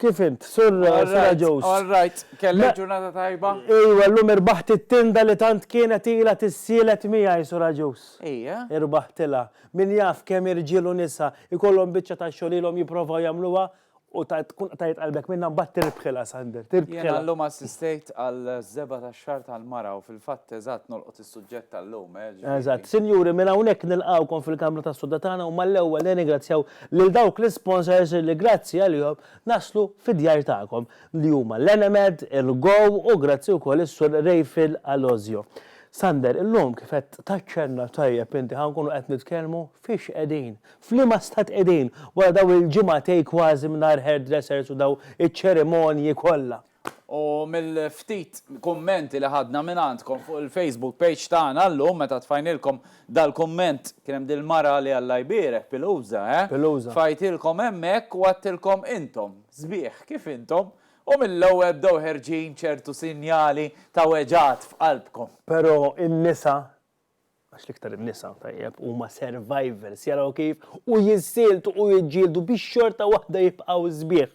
Kif int, Sur Sira Joes? All right, kellek ġurnata tajba? Ejwa, llum irbaħt it-tinda li tant kienet ilha tissielet miegħi, Sur Agius. Ejja? Irbaħtilha. Min jaf kemm irġiel u nisa jkollhom biċċa ta' xogħol ilhom jipprovaw jagħmluha u tkun qtajt qalbek minnha mbagħad tirbħilha, Sander, tirbħilha. Jiena llum assistejt għall-żebgħa tax-xahar tal-mara u fil-fatt eżatt nolqot Suġġett tal-lum, eh, ġifieri. Eżatt. Sinjuri, minn hawnhekk nilqgħukom fil-kamra tas-sodda tagħna u mal-ewwel nirringrazzjaw lil dawk l-isponsors li grazzi għalihom naslu fid-djar tagħkom, li huma l-Enemed, il-Go u grazzi wkoll is-Sur Rayfield Alozio. Sander, illum kif qed taċċenna tajjeb inti ħa nkunu qed nitkellmu fiex qegħdin, f'liema stat qegħdin wara dawn il-ġimgħatej kważi mingħajr hairdressers u dawn iċ-ċerimonji kollha. U mill-ftit kummenti li ħadna mingħandkom fuq il-Facebook page tagħna llum meta tfajnilkom dal-kumment kien hemm dil-mara li Alla jbierek, Piluza, eh? Piluza. Tfajtilkom hemmhekk u għedtilkom intom sbieħ kif intom u mill-ewwel bdew ħerġin ċertu sinjali ta' weġgħat f'qalbkom. Però in-nisa għax l-iktar in-nisa, tajjeb, huma survivors, jaraw kif u jiżżieltu u jiġġieldu biex xorta waħda jibqgħu sbieħ.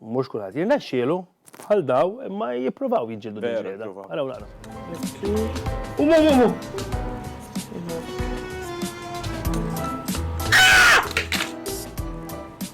Mhux kulħadd jirnexxielu, bħal daw, imma jippruvaw jiġġieldu din il-ġlieda. Araw naqra.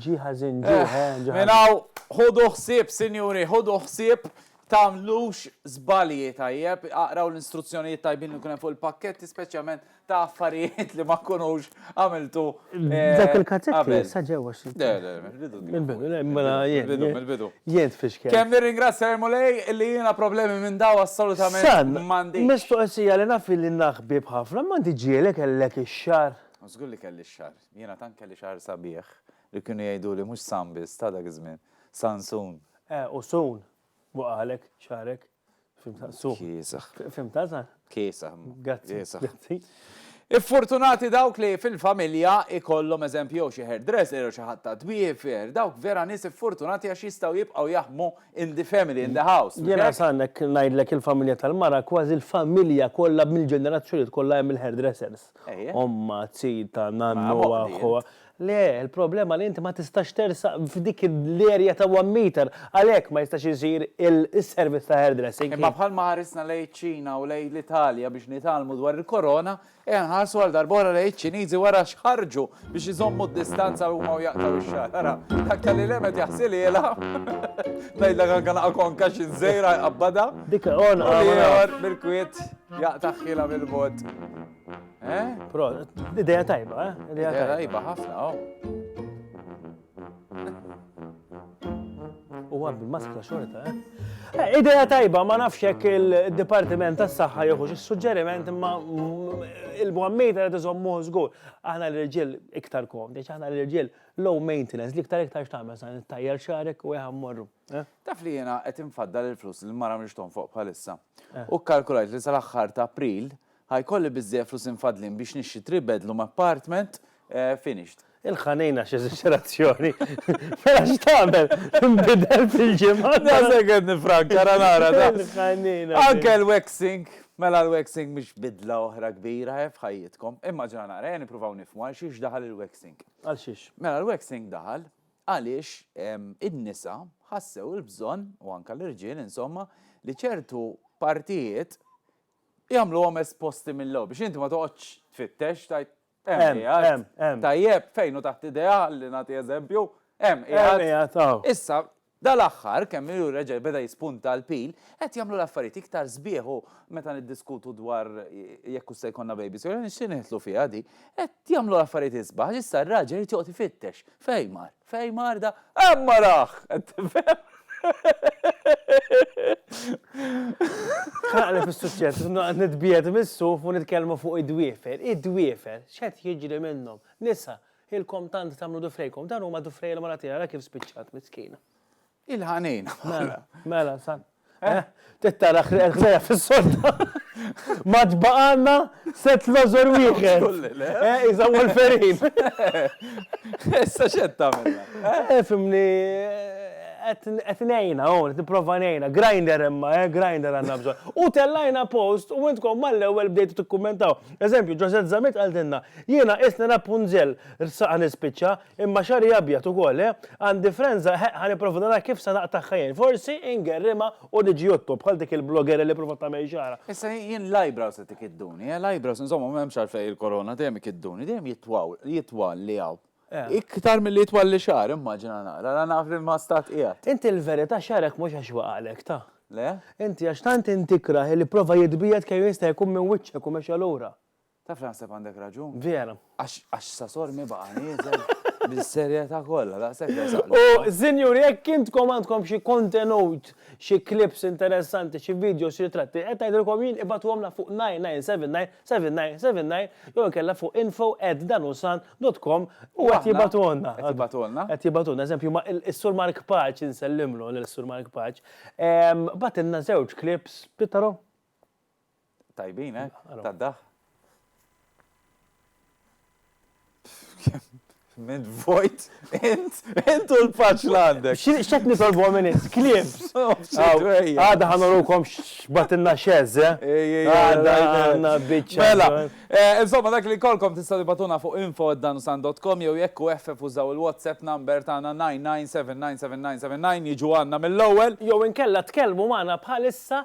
Ġie ħażin, ġie Eh, ħe, ġie minn ħażin. hawn ħudu ħsieb, sinjuri, ħudu ħsieb tagħmlux żbalji, tajjeb? Aqraw l-instruzzjonijiet tajbin li jkun hemm fuq il-pakketti, speċjalment ta' affarijiet li ma tkunux għamiltu eh, Dak il-kazzetti qabel. sa ġew 20. Le, le, mill-bidu kien Mill-bidu, fuq. le, mela jien. Mill-bidu, mill-bidu. Jien tfixkel. Kemm nirringrazzja lil Mulej li jiena problemi minn dawn assolutament San, m'għandix. mistoqsija li naf li naħbib ħafna, m'għandi ġieli kellek ix-xagħar? Żgur li kelli x-xagħar. Jiena tant kelli xagħar sabiħ li kienu jgħiduli mhux San biss ta' dak iż-żmien, Sansun. Eh, u Sun, waqagħlek xagħrek. Fimtha? Sun. Kiesaħ. Fimtha, Sun? Kiesaħ. Grazzi. Grazzi. Iffortunati dawk li fil-familja ikollhom eżempju jew xi hairdresser jew xi ħadd ta' dwiefer, dawk vera nies iffortunati għax jistgħu jibqgħu jaħdmu in the family, in the house. Jiena Sun hekk ngħidlek il-familja tal-mara kważi l-familja kollha mill-ġenerazzjonijiet kollha hemm il-hairdressers. ommha, zita, nannu, aħħu, le, il-problema li inti ma tistax tersaq f'dik l-area ta' one meter, għalhekk ma jistax isir is-servizz ta' hairdressing. Imma bħalma ħarisna lejn iċ-Ċina u lejn l-Italja biex nitgħallmu dwar il-Korona, ejja nħarsu għal darb'oħra lejn iċ-Ċiniżi wara x'ħarġu biex iżommu d-distanza huma u jaqtaw ix-xagħar. Ara, dak tal ilem qed jaħsililha. Ngħidlek anke naqa' konka xi żejra jqabbadha. Dik on ieħor bil-kwiet jaqta' ħila mill-bot. Eh? Pro, idea tajba, eh? Idea tajba ħafna, oh. U għab il-maskra xorta, eh? eh? Ideja tajba, ma nafx jekk il-Dipartiment tas saħħa jieħux is-suġġeriment imma il-bwammita li tiżommu żgur. Aħna l-irġiel iktar komdi, aħna l-irġiel low maintenance li iktar iktar x'tagħmel sa nittajjar xarek u jaħam morru. Eh? Taf li jiena qed infaddal il-flus li mara mhix fuq bħalissa. Eh. U kkalkulajt li sal-aħħar ta' April Ħa jkolli biżżejjed flus imfaddlin biex nixtri three bedloom apartment finished. Il-ħanejna x'eżaġerazzjoni! Mela x'tagħmel? Tinbidel fil-ġimgħa? Daqshekk qed nifranka ra nara da! Il-ħanejna! Anke l-waxing! Mela l-waxing mhix bidla oħra kbira he f'ħajjitkom. Immaġina nara, ejja nippruvaw nifhmu għal xiex daħal il-waxing. Għal xiex? Mela l-waxing daħal għaliex in-nisa ħassew il-bżonn, u anke l-irġiel insomma, li ċertu partijiet jagħmluhom esposti mill-ewwel biex inti ma toqgħodx tfittex tgħid hemm qiegħed. Tajjeb, fejn hu taħt idea ħalli nagħti eżempju, hemm qiegħed. Issa, dal-aħħar kemm ilu reġa' beda jispunta l-pil, qed jagħmlu l-affarijiet iktar sbieħ u meta niddiskutu dwar jekk hux se jkollna babies jew le nixtieq nidħlu fiha din, qed jagħmlu l-affarijiet isbaħ għax issa r-raġel irid joqgħod ifittex fejn mar. F'hej marda, hemm arah! Qed tifhem? Tħanaqli fis-suċċess, isu noqgħod nitbiegħed mis-suf u nitkellmu fuq id-dwiefer. Id-dwiefer, x'qed jiġri minnhom? Nisa, ilkom tant tagħmlu dufrejkom, dawn huma dufrejja l-Malati, ara kif spiċċat, miskina. Il-ħanejn. Mela, mela, san. Eh? Tittara ħrejja fis-sodda. Ma tbaqanna set lożor wieħed. Eh, iżda Wolferin. Issa xed tagħmilha. Eh? eh, fimni qed ngħinha hawn, qed nipprova ngħinha. Grinder imma, eh, grinder għandna bżonn. U tellajna post u intkom mal-ewwel bdejtu tikkummentaw. Eżempju, Ġosett Zamit għaldinna, jiena isni Rapunzel, rsaqa nispiċċa, Imma xagħri abjad ukoll, eh? Għandi frenża, eħeq ħa nipprova nara kif se naqtagħha jien. Forsi ingerrimha u niġi jotto, bħal dik il-bloggerja li provat tagħmel xagħarha. Issa jien l-eyebrows qed ikidduni, eh? L-eyebrows, insomma, m'hemmx għalfejn il-korona, dejjem ikidduni, dejjem jitwaw, jitwal li hawn. Iktar milli jitwal li xagħar, immaġina naqra, ara naf li ma stat qiegħed. Inti l-verità xagħrek mhux għax waqgħalek, ta? Le? Inti għax tant inti ikrah li prova jitbiegħed kemm jista' jkun minn wiċċek u mexxa lura. Taf li naħseb għandek raġun. Vera. Għax sasor mi baqa nieżel bis-serjetà kollha daqshekk resaq. U sinjuri jekk intkom għandkom xi kontenut, xi clips interessanti, xi videos, xi ritratti, qed ngħidilkom jien ibagħtuhomlna fuq 99797979 jew inkella fuq info@danusan.com u qed jibagħtuhonna. Qed jibagħtuhonna. Qed jibagħtuhonna. Eżempju ma is-Sur Mark Paċ insellimlu lil Sur Mark Paċ. Bagħtilna żewġ clips, Pittaro? Tajbin, eh? Tad-daħ. Mid vojt, int, int u l-paċ l-għandek. Xċet nitolbu għamenis, klips. Għada ħanorukom xbatinna xezze. Eh? Għada għanna bicċa. Mela, eh, insomma, dak li kolkom tista' tibatuna fuq info danusan.com jew jekku eħfef użaw il-WhatsApp number tagħna 997999 jiġu għanna mill-ewwel. Jew inkella tkellmu magħna bħalissa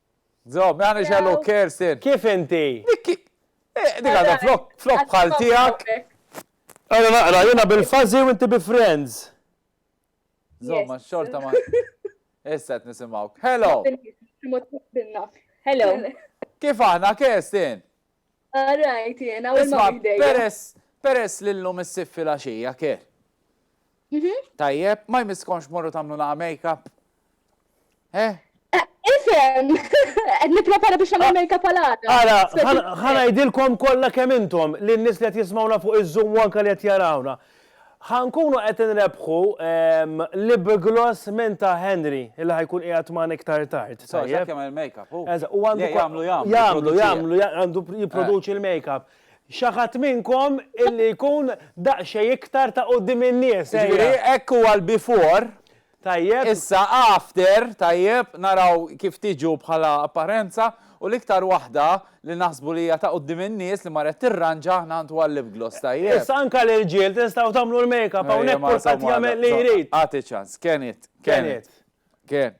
Żomm, ma jagħmilx għallu Kerstin. Kif inti? Dik eh, dik għadha flok flok bħal tiegħek. Ara naqra, jiena bil-fażi u inti bi friends. Żomm, ma xorta ma. Issa qed nisimgħu. Hello. Hello. Kif aħna Kerstin? Rajt jiena u l-mom ħdejja. Peress, peress li llum issib filgħaxija kier. Mhm. Tajjeb, ma jmisskomx morru tagħmlu laqa' make-up? Eh? eh ifhem, qed nipprepara biex nagħmel ah, make-up għal għada. Ara, ħanajdilkom kollha kemm intom li n-nies li qed jismawna fuq iż-Zoom u anke li qed jarawna. Ħa nkunu qed inrebbħu Lib Gloss minn ta' Henry, illi ħa jkun qiegħed magħna iktar tard. Tajjeb. X'qed jagħmel il-makeup hu? Eżatt, u għandu. Le, jagħmlu, jagħmlu. Jagħmlu, jagħmlu, għandu jipproduċi l-makeup. Xi ħadd minnkom illi jkun daqsxejn iktar ta' quddiem in-nies, ejja. Jiġifieri hekk huwa l-before. Tajjeb, issa after, tajjeb, naraw kif tiġu bħala apparenza u l-iktar waħda li naħsbu li hija ta' quddiem in-nies li marret tirranġa aħna nħantu għal-lip gloss, tajjeb. Issa anke l-irġiel tistgħu tagħmlu l-makeup hawnhekk kulħadd jagħmel li jrid. Agħti ċans, can it, can it, can.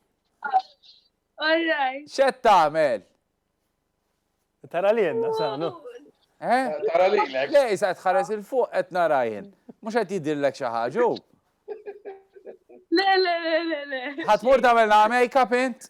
All right. Xed tagħmel? Tara li jenna, sanu. Eh? Tara li l Le, jisa tħares il-fuq qed nara jien. Mhux qed jidillek xi ħaġa. Le, le, le, le, le. Ħatmur tagħmel la make-up int?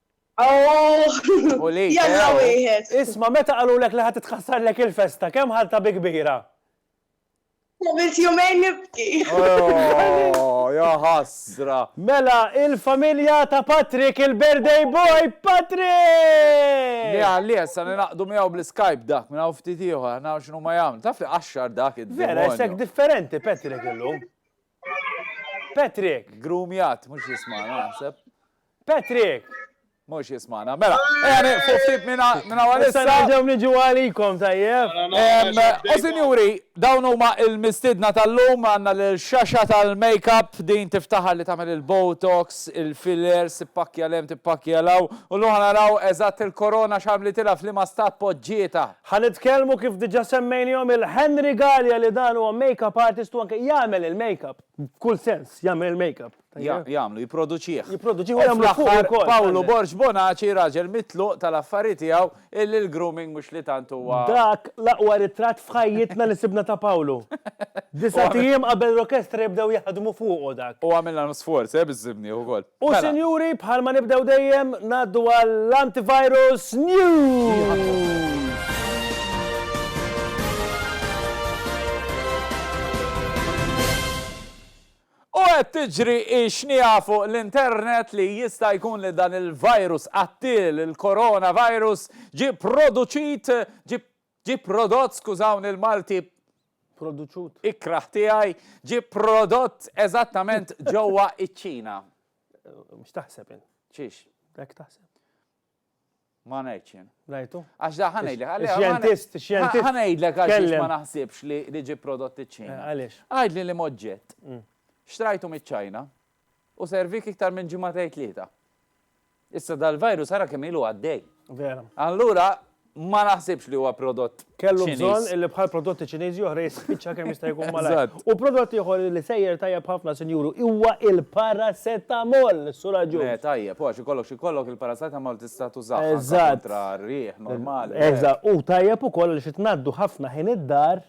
Aww! U li Jalla tew! wieħed! Isma' meta qalulek li ħa titħassarlek il-festa, kemm ħadtha bi kbira? Għamilt jumejn nibki! Aww! Ja ħasra! Mela il-familja ta' Patrick il-birthday boy Patrick! Niha li issa ningħaqdu miegħu bl-Skype dak minn hawn ftit ieħor, naraw x'inhuma jagħmlu. Taf li qaxxar dak id-demonju! Vera isek differenti Patrick illum. Patrick! Grumjat, mux jismana, naħseb. Patrick! Mux jismana. Mela, għani, eh, fuq ftit minna għalissa. Għaġaw nġu għalikom, tajjeb. U sinjuri, dawn huma il-mistidna tal-lum għanna l-xaxa tal-makeup din tiftaħar li tamel il-botox, il-fillers, tippakja lem, tippakja law. U l-ħana raw eżat il-korona xamli tilaf li ma stat podġieta. Ħa nitkellmu kif diġa semmejnihom il Henry Galea li dan huwa makeup artist u anke jagħmel il-makeup. F'kull sens, jagħmel il-makeup. Jagħmlu, jipproduċih. Jipproduċih u jagħmlu fuqu wkoll. U fl-aħħar Pawlu Borg Bonaci, raġel mitluq tal-affari tiegħu illi l-grooming mhux li tant huwa. Dak l-aqwa ritratt f'ħajjitna li sibna ta' Pawlu. Disgħat ijiem qabel l-orkestra jibdew jaħdmu fuqu dak. U għamilna sforz, eh, biż-żimnieh ukoll. U sinjuri, bħal ma nibdew dejjem, ngħaddu għall-Antivirus News! U qed tiġri x-xniegħa fuq l-internet li jista' jkun li dan il-virus qattiel, il-coronavirus, ġie produċit, ġie Ġie prodott, skużawni l-Malti, Produċut. ikrah tiegħi, ġie prodott eżattament ġewwa ċ-Ċina. Mhux taħseb int. Xiex? Hekk taħseb. Ma ngħidx jien. Ngħidu? Għax da ħa ngħidlek. għalli- Ix-xjentist, ix-xjentist. Ħa ngħidlek għaliex ma Tkellem. naħsibx li li ġie prodott iċ-Ċina. Eh, għaliex? Mm. Għidli li moġġett. Xtrajtu miċ-Ċina u servik iktar minn ġimgħatej tlieta. Issa dal-virus ara kemm ilu għaddej. Vera. Allura ma naħsibx li huwa prodott. Kellu bżonn li bħal prodotti Ċiniżi oħra jispiċċa kemm jista' jkun malajr. U prodott ieħor li sejjer tajjeb ħafna sinjuru huwa il-paracetamol, Sur Agius. Le tajjeb, u għax ikollok xi jkollok il-paracetamol tista' tużah kontra r-riħ normali. Eżatt, u tajjeb ukoll għaliex itnaddu ħafna ħin id-dar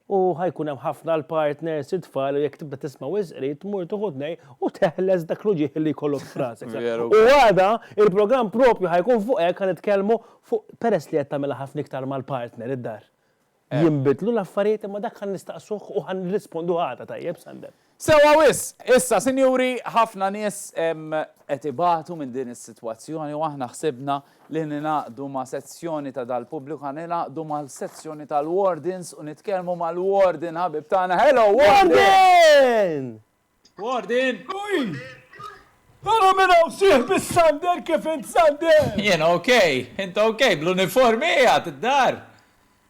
U ħa jkun hemm ħafna l-partners, it-tfal, u jekk tibda tisma' wisq qrib tmur tieħu tnej u teħles dak l-uġigħ li jkollok f'rasek. U għada, il-programm proprju ħa jkun fuq hekk, ħa nitkellmu fuq peress li qed tagħmilha ħafna iktar mal-partner id-dar. Jinbidlu l-affarijiet imma dak ħa nistaqsuh u ħa nirrisponduh għada tajjeb, Sander. Sewwa wisq! Issa, sinjuri, ħafna nies qed ibatu minn din is-sitwazzjoni u aħna ħsibna li ningħaqdu ma' sezzjoni ta' dal-pubbliku, ħa ningħaqdu mal-sezzjoni tal-wardens u nitkellmu mal-warden ħabib tagħna. Hello, warden! Warden! Warden! Warden! Ara min hawn sieħbi s-sander, kif int sander? Jien ok. Int ok? Bl-uniformi qiegħed id-dar?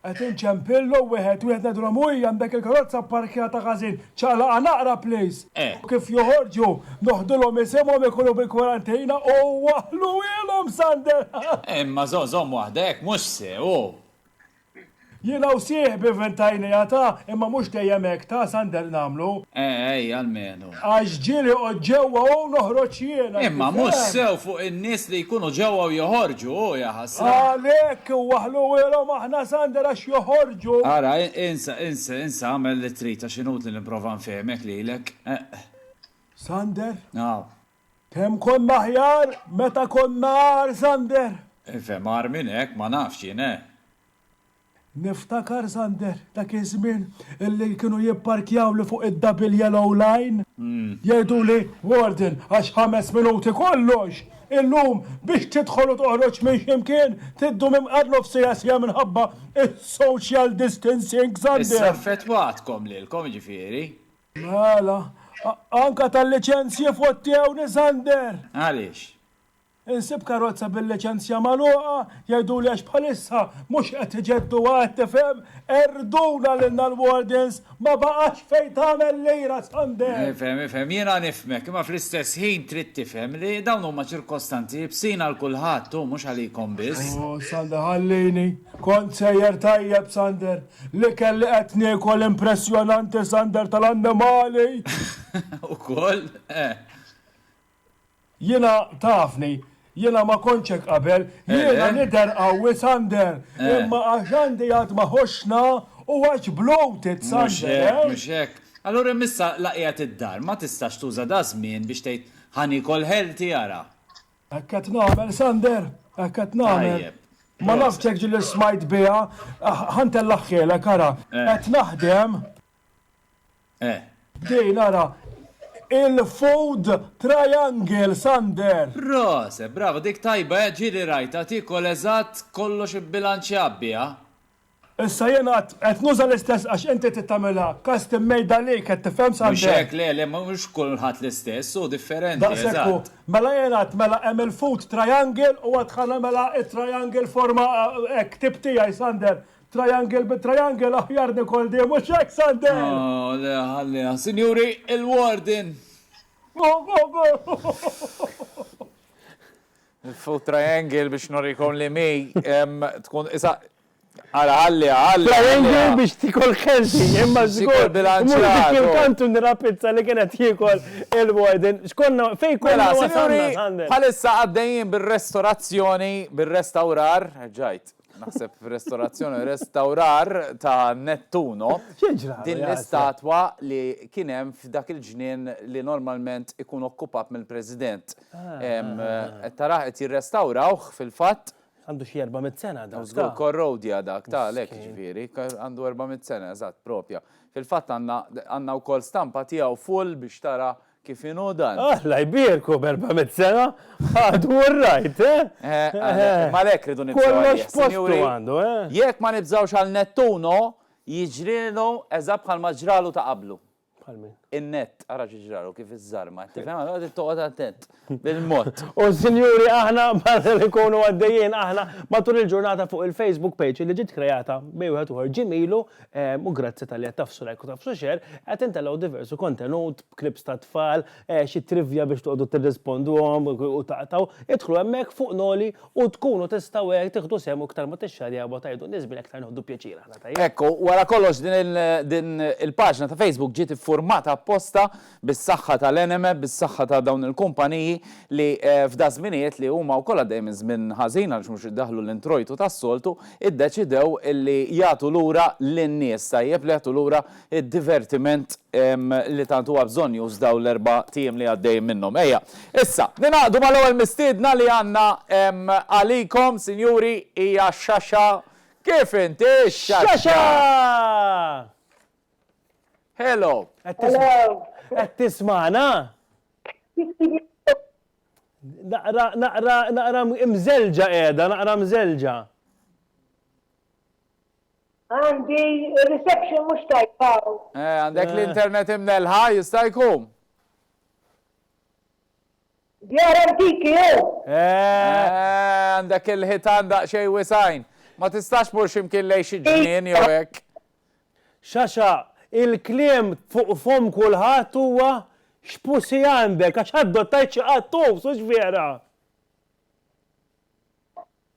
Qed inċempillhom wieħed wieħed ngħidulhom uii għandek il-karozza pparkjata ħażin, ċaqlaqha naqra please! U kif joħorġu, noħdulhom isimhom ikunu bil-kwarantina u waħħluhielhom Sander! Imma żomm żomm waħdek, mhux sew! Jiena u sieħbi ventajnejha ta, imma mhux dejjem hekk ta, Sander nagħmlu. Ejja almenu. Għax ġieli qgħod ġewwa u noħroġ jiena. Imma mhux sew fuq in-nies li jkunu ġewwa u joħorġu, hu, jaħasra. Għalhekk, waħħlu wielhom aħna sander għax joħorġu. Ara, insa, insa, insa, agħmel li trid għax inutli nipprova nfehmek lilek. Sander? Naf. Kemm konna aħjar meta konna agħar, Sander! Infhem agħar minn hekk, ma nafx jien, eh. Niftakar, Sander, dak iż-żmien illi kienu jipparkjawli fuq id-double yellow line, jgħiduli, Warden, għax ħames minuti kollox, illum biex tidħol u toħroġ minn xi mkien tiddum imqar nofsiha siegħa minħabba s-social distancing, Sander! Issa affettwatkom lilkom, jiġifieri. Mela, anke tal-liċenzji fottewni, Sander! Għaliex? Insib karozza bil-liċenzja magħluqa, jgħiduli għax bħalissa mhux qed iġedduha qed tifhem? Erduna lilna l-wardens, ma baqax fejn tagħmel lira Sunday! Nifhem, nifhem, jiena nifhmek, imma fl-istess ħin trid tifhem li dawn huma ċirkostanzi ibsin għal kulħadd hu mhux għalikom biss. Oh, Sander ħallini, kont sejjer tajjeb Sander, l-ikel li qed niekol impressjonanti Sander tal-annimali! Ukoll? Eh. Jiena tafni, jiena ma kontx hekk qabel, jiena nidher qawwi Sander, imma għax għandi għad ma ħossna u għax bloated Sander eh. Mhux hekk, mhux hekk. Allura hemm issa laqgħiet id-dar, ma tistax tuża da żmien biex tgħid ħa niekol healthy ara. Hekk qed nagħmel Sander, hekk qed nagħmel. Ma nafx hekk ġieli smajt biha, ħa ntellagħhielek ara. Qed naħdem Eh. Dej nara il-food triangle Sander. Prose, bravo, dik tajba eh, ġieli rajta, tiekol eżatt kollox ibbilanċjat biha. Issa jien għad qed nuża l-istess għax inti trid tagħmilha custom made għalik qed tifhem Sander. Mhux hekk le le mhux kulħadd l-istess u differenti. Daqsekku, mela jien għad mela hemm il-food triangle u għad ħana mela it-triangle forma hekk tip tiegħi Sander Triangle bi triangle aħjar Nicole di, mhux hekk Sander? Oh, le ħalliha. Sinjuri, il-warden. Il-food triangle biex norikom li mi tkun isa Għala għalli għalli. Għalli biex tikol kelti, imma zgur. Mux dik il-kantu nira pizza li kienet jikol il-warden. Xkonna fej kolla mela, wasalna. Għalissa għaddejjien bil-restorazzjoni, bil-restaurar, ġajt. naħseb f'restorazzjoni u restawrar ta' Nettuno, din l-istatwa li kien hemm f'dak il-ġnien li normalment ikun okkupat mill-President. Qed taraħ qed jirrestawrawh fil-fatt. Għandu xi 400 sena dak. Żgur korrodja dak ta' lek ġifieri, għandu 400 sena eżatt propja. Fil-fatt għandna wkoll stampa tiegħu full biex tara Kif inhu dan? Alla jbierku b'erba' mitt sena għadu orrajt, eh? M'għalhekk irridu nibżgħu għalih, sinjuri. Kollox postu għandu, eh? Jekk ma nibżgħux għal Nettuno, jiġrielu eżatt bħalma ġralu ta' qablu. Bħal min? In-nett, ara xi ġralu, kif iżżarma, tifhem? Allura trid toqgħod attent, bil-mod. U sinjuri aħna matul ikunu għaddejjin aħna matul il-ġurnata fuq il-Facebook page li ġiet kreata bejn wieħed u ieħor ġimgħilu u grazzi talli qed tafsu like u tafsu share, qed intelgħu diversu kontenut, clips tat-tfal, xi trivja biex toqgħodu tirrisponduhom u taqtgħu, idħlu hemmhekk fuq l-għoli u tkunu tistgħu hekk tieħdu sehem u iktar ma tixxarjaw u tgħidu n-nies minn hekk iktar nieħdu pjaċir aħna tajjeb? Hekk hu, wara kollox din il-paġna ta' Facebook ġiet iffurmata apposta bis-saħħa tal-anime, bis-saħħa ta' dawn il-kumpaniji li f'daż-żminijiet li huma wkoll għaddejjin minn żmien ħażin għaliex mhux qed idaħħlu l-introjtu tas-soltu, iddeċidew li jagħtu lura lin-nies, tajjeb, li jagħtu lura d-divertiment li tant huwa bżonnjuż dawn l-erbat ijiem li għaddejjin minnhom. Ejja, issa, ningħaqdu mal-ewwel mistiedna li għandna għalikom, sinjuri, hija x-Xaxa. Kif inti, x-Xaxa? X-Xaxa! Hello. Qed tismana? Naqra, naqra, naqra mżelġa qiegħda, naqra mżelġa. Għandi reception mhux tajba. Eh, għandek eh. l-internet imnelħa jista' jkun. Djar antiki hu! Eeh! Għandek il-ħitan daqsxejn wisgħin. Ma tistax tmur xi mkien lejn xi ġnien jew hekk? Xaxa, il-kliem fuq fomm kulħadd huwa X'pussy għandek? Għax adottajt xi qattus, hux vera?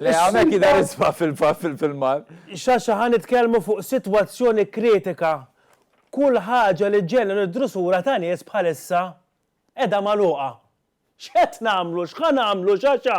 Le, hawnhekk jidher isma' fil-filmat. Xaxa ħa nitkellmu fuq sitwazzjoni kritika. Kull ħaġa li ġġenna nid-drusura ta' nies bħalissa qiegħda magħluqa. X'qed nagħmlu, x'ħa nagħmlu, Xaxa?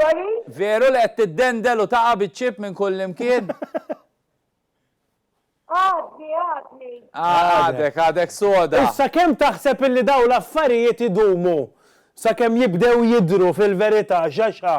Sorry? Veru li qed tiddendel u taqa' biċ-ċipp minn kullimkien? Għadni, għadni. Għadek, għadek soda. Issa kemm taħseb illi dawn l-affarijiet idumu sakemm jibdew jidhru fil-verità, Xaxà?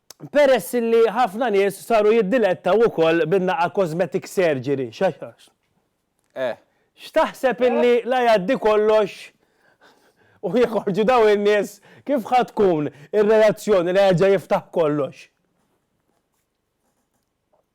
peress li ħafna nies saru jiddilettaw ukoll bin-naqa' cosmetic surgery. Eh. X'taħseb illi la jgħaddi kollox u jeħorġu dawn in-nies kif ħa tkun ir-reazzjoni la jerġa' jiftaħ kollox?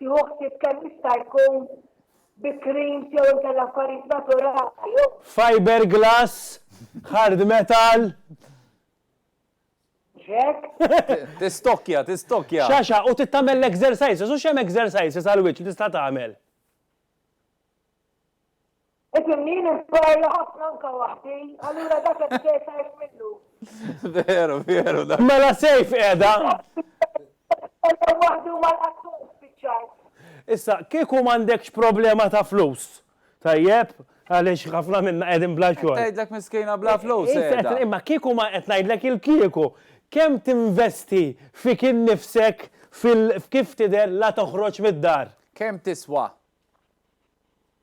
Tieħu ħsieb kemm jista' jkun bi creams jew inkella affarijiet naturali u. Fiber glass, hard metal. Mhux hekk? Tistokkja, tistokkja. Xaxaq u trid tagħmel l-exercises u x'hemm exercises għall-wiċċ li tista' tagħmel? Qed imnini nparla ħafna anka waħdi, allura dak qed isir tajjeb minnu. Veru, veru dak. Mela Sejf qiegħda. Jitkellem waħdu u ma lqattuhx spiċċajt. Issa, kieku m'għandekx problema ta' flus, tajjeb, għaliex ħafna minna qegħdin bla xogħol. Qed tgħidlek miskina bla flus qiegħda. Imma kieku ma qed ngħidlek il-kieku, kemm tinvesti fik innifsek f'kif tidher la toħroġ mid-dar? Kemm tiswa?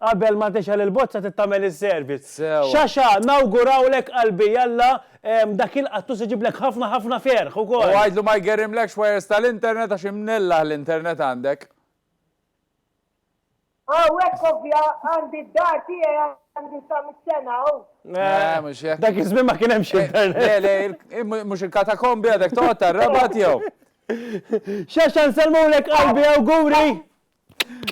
Qabel ma tixgħel il-bozza trid tagħmel is-service. Sewwa. Xaxa, nawgurawlek qalbi jalla dak il-qattus iġiblek ħafna ħafna ferħ ukoll. U għidlu ma jgerrimlekx wires tal-internet għax imnellaħ l-internet għandek. Hawnhekk ovvja għandi d-dar tiegħi għandi sa mitt sena hawn. Eh, mhux hekk. Dak iż-żmien ma kien hemmx internet. Le, le, il- mhu- mhux il-katakombi għadek toqgħod tar-rabat jew. Xaxa nsellmulek qalbi awguri.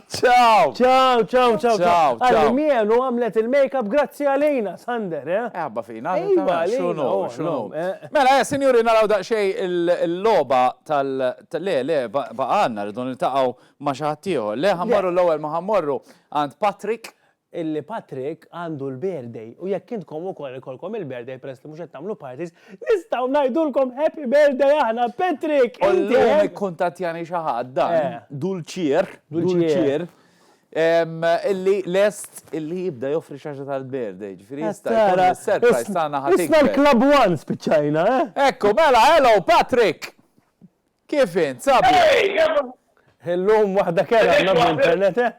Ciao! Ciao, ciao, ciao, ciao. Għalli mien u għamlet il-makeup grazzi għalina, Sander, eh? Eħabba fina, għalina, xunu, xunu. Mela, eh, sinjuri, naraw daqxej il-loba tal... Le, le, baqanna, rridu niltaqaw ma xaħtiħu. Le, ħammorru l-ewel ma ħammorru għand Patrick. illi Patrick għandu l-birthday u jekk intkom ukoll ikollkom il-birthday peress li mhux qed tagħmlu parties nistgħu ngħidulkom happy birthday aħna Patrick! U llum ikkuntattjani xi ħadd dan Dulcier Dulcier illi lest illi jibda joffri xaġa tal-birthday ġifieri jista' jkun li s-surprise tagħna ħa tikber. Isna l-Club One spiċċajna eh! Ekku mela hello Patrick! Kif int sabiħ? Illum waħda kerha għandna bl-internet eh!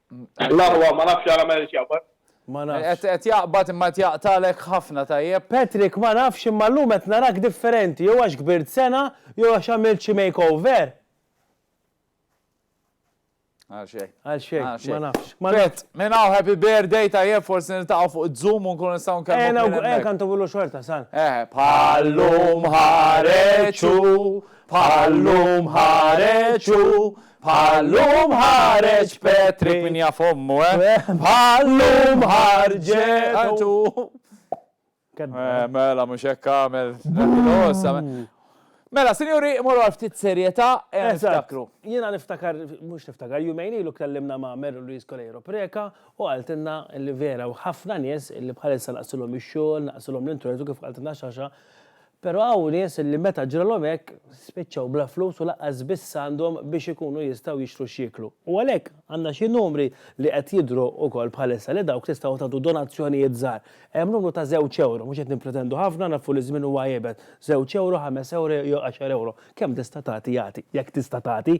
L-aħwa ma nafx għala ma jridx jaqbad. Ma nafx. Qed jaqbad imma qed jaqtagħlek ħafna tajjeb. Patrick ma nafx imma llum qed narak differenti jew għax kbirt sena jew għax għamilt xi makeover. Għal xejn. Għal xejn, ma nafx. Pet, minn hawn happy birthday tajjeb forsi niltaqgħu fuq Zoom u nkunu nistgħu nkellmu. Ejna u hekk għandu billu xorta san. Eh, bħallum ħareġu, bħallum ħareġu, Bħal-lum ħareġ Petri. Min jaf ommu, eh? Bħal-lum ħarġet u. Eh, mela, mux hekk għamel. Mela, sinjuri, morru għal ftit serjeta, eh, niftakru. Jena niftakar, mux niftakar, jumejni lu kellimna ma' Meru Luis Kolejro Preka u għaltinna li vera u ħafna nies li bħalissa naqsilom il-xol, naqsilom l-internet u kif għaltinna xaxa Però hawn nies li meta ġralhom hekk, spiċċaw bla flus u lanqas biss għandhom biex ikunu jistgħu jixtru x'jieklu. U għalhekk, għandna xi numri li qed jidhru wkoll bħalissa li dawk tistgħu tagħtu donazzjonijiet żgħar. Hemm numru ta' żewġ ewro, mhux qed nippretendu ħafna, nafu li ż-żmien huwa iebes, żewġ ewro, ħames ewro jew għaxar ewro. Kemm tista' tagħti agħti, jekk tista' tagħti.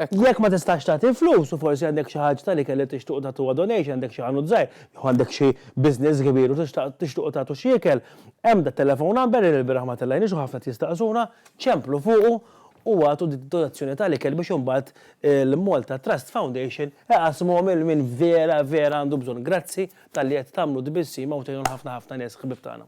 Jekk ma tistax tagħti flus u forsi għandek xi ħaġ tal-ikel li tixtuq tagħtuha donation, għandek xi ħanut żgħir jew għandek xi business kbir u tixtaq tixtuqu tagħtu xi ikel, Hemm the telephone number li l-bieraħ ma tellajniex u ħafna qed jistaqsuna, ċemplu fuqu u agħtu dik id-donazzjoni ta' l-ikel biex imbagħad il-Malta Trust Foundation iqassmuhom lil min vera vera għandu bżonn. Grazzi talli qed tagħmlu tbissima u tgħinu lil ħafna ħafna nies ħbieb tagħna.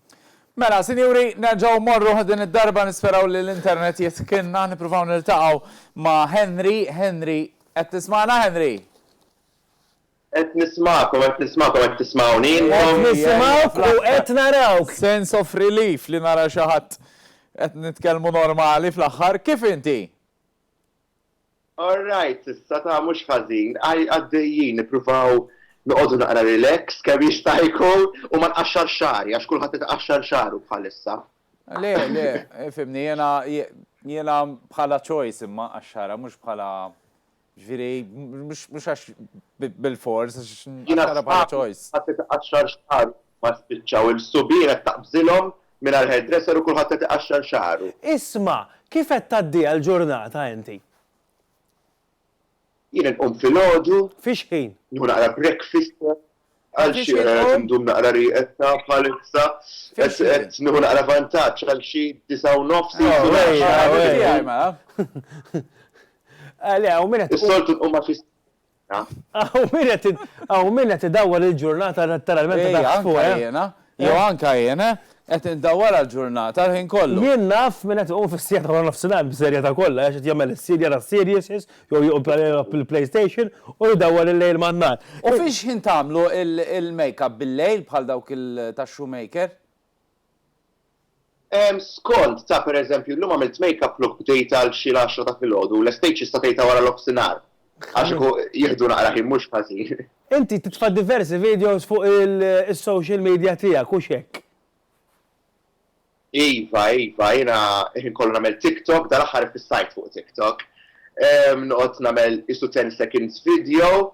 Mela, sinjuri, nerġgħu mmorru din id-darba nisperaw li l-internet jitkinna, nippruvaw niltaqgħu ma' Henry, Henry, qed tismagħna Henry? Qed nismagħkom, qed nismagħkom, qed tismgħuni intom? Qed nisimgħuk u qed narawk! Sense of relief li nara xi ħadd qed nitkellmu normali fl-aħħar. Kif inti? All right s'issa, ta' mhux ħażin. Għaddejjin, nippruvaw noqogħdu naqra relax kemm jista' jkun u ma nqaxxarx xagħri għax kulħadd qed iqaxxar xagħru bħalissa. Le, le, ifhimni, jiena jiena bħala choice imma nqaxxarha mhux bħala Ġifieri, mhux għax bil-fors, għax għandha bħala choice. Qatt iqaxxar xagħar ma spiċċaw il-subien qed taqbżilhom mingħajr hairdresser u kulħadd qed iqaxxar xagħru. Isma', kif qed tgħaddiha l-ġurnata inti? Jien inqum filgħodu. Fix-xħin? Nieħu naqra breakfast, Għal xi qed indum naqra rieqedta bħalissa qed nieħu naqra vantaġġ għal xi disa' u nofs isu Is-soltu nqum ma' fis Hawn min qed idawwal il-ġurnata ta' l-ment ta' daqsfuq. Jew anke jien, eh? Qed indawwar għall-ġurnata l-ħin kollu. Jien naf min qed iqum fis-siegħa ta' waranofsinhar b'serjetà kollha għax qed jagħmel is-serie jara s-series jew joqgħod jilgħab il-PlayStation u jdawwar il-lejl man-nhar. U fiex ħin tagħmlu il-makeup bil-lejl bħal dawk ta' Shoemaker? Skont, ta' per eżempju, illum għamilt makeup look bdejtha għal xi l-għaxra ta' filgħodu u lestejt xi statejt ta' wara nofsinhar. Għax kieku jieħdu naqra ħin mhux ħażin. Inti titfa' diversi videos fuq is-social media tiegħek, hux hekk? Iva, iva, jiena l-ħin kollu nagħmel TikTok, dal-aħħar iffissajt fuq TikTok. Noqgħod nagħmel qisu ten seconds video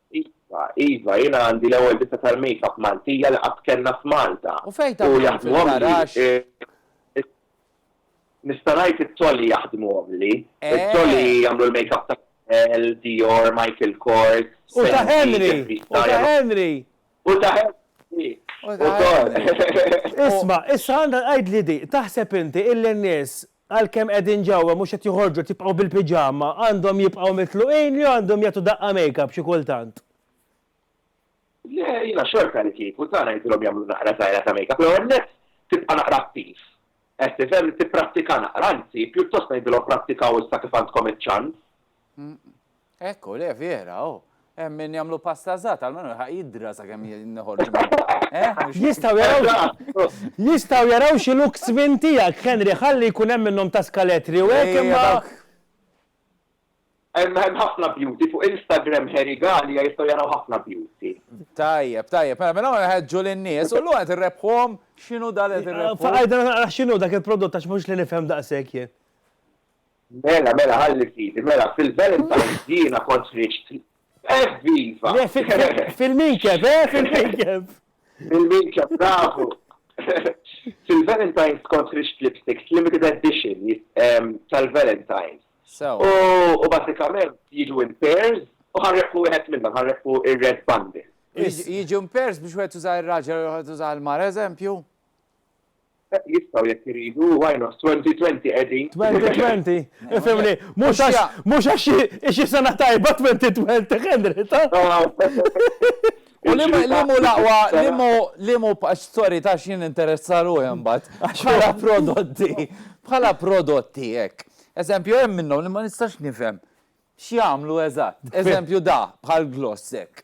Iva, iva, jiena għandi l-ewwel ditta tal-makeup Maltija li qatt kellna f'Malta. U fejn taħdmuhom fil-garaxx? Nista' ngħid it-toli jaħdmuhomli. It-toli jagħmlu l-makeup ta' Chanel, Dior, Michael Kors, Fenty, Jeffree Star. U ta' Henry! U ta' Henry! U ta' Henry! Ukoll! Isma', issa għandha tgħidli di, taħseb inti illi n-nies Għalkemm qegħdin ġewwa mhux qed joħorġu qed jibqgħu bil-piġama, għandhom jibqgħu mitluqin jew għandhom jagħtu daqqa makeup xi kultant? Le, jiena xorta li kieku ta' ngħidilhom jagħmlu naqra żgħira ta' makeup. L-ewwel nett tibqa' naqra attiv. Qed tifhem? Tipprattika naqra, anzi, pjuttost ngħidilhom prattikaw issa kif għandkom iċ-ċans. Hekk hu, le vera, hu. Hemm min jagħmlu pasta żgħat, almenu jilħaq jidra sakemm noħorġu mill-baqgħa. Jistgħu jaraw jistgħu jaraw xi looks minn tiegħek, Henry, ħalli jkun hemm minnhom ta' skaletri u hekk imma. Hemm hemm ħafna beauty fuq Instagram Heri Galea jistgħu jaraw ħafna beauty. Tajjeb, tajjeb, mela minn hawn inħeġġu lin-nies u llum qed irrebbħuhom x'inhu dan li qed irrebbħu. Faqgħidna naqra x'inhu dak il-prodott għax mhux li nifhem daqshekk jien. Mela, mela, ħalli fidi, mela, fil-Valentine's jiena kont riċt. Evviva! Eh, fil-minkeb, eh, fil-minkeb! Fil-minkeb, bravu! Fil-Valentine's kont riċt lipsticks limited edition ehm, tal-Valentine's. U basikament jiġu in pairs u ħarreku wieħed minnhom, ħarreku ir-red bundle. Jiġu in pairs biex wieħed tuża ir-raġel u wieħed tuża l-mar, eżempju? Jistgħu jekk iridu, why not? Twenty twenty qegħdin. Twenty twenty? Ifhimni, mhux għax hi xi sena tajba twenty twenty, Henrietta! U li mhu l-aqwa, li mhu, sorry ta' x'jien interessa ruħi imbagħad. Bħala prodotti, bħala prodotti hekk. Eżempju, hemm minnhom li ma nistax nifhem x'jagħmlu eżatt. Eżempju da, bħal gloss hekk.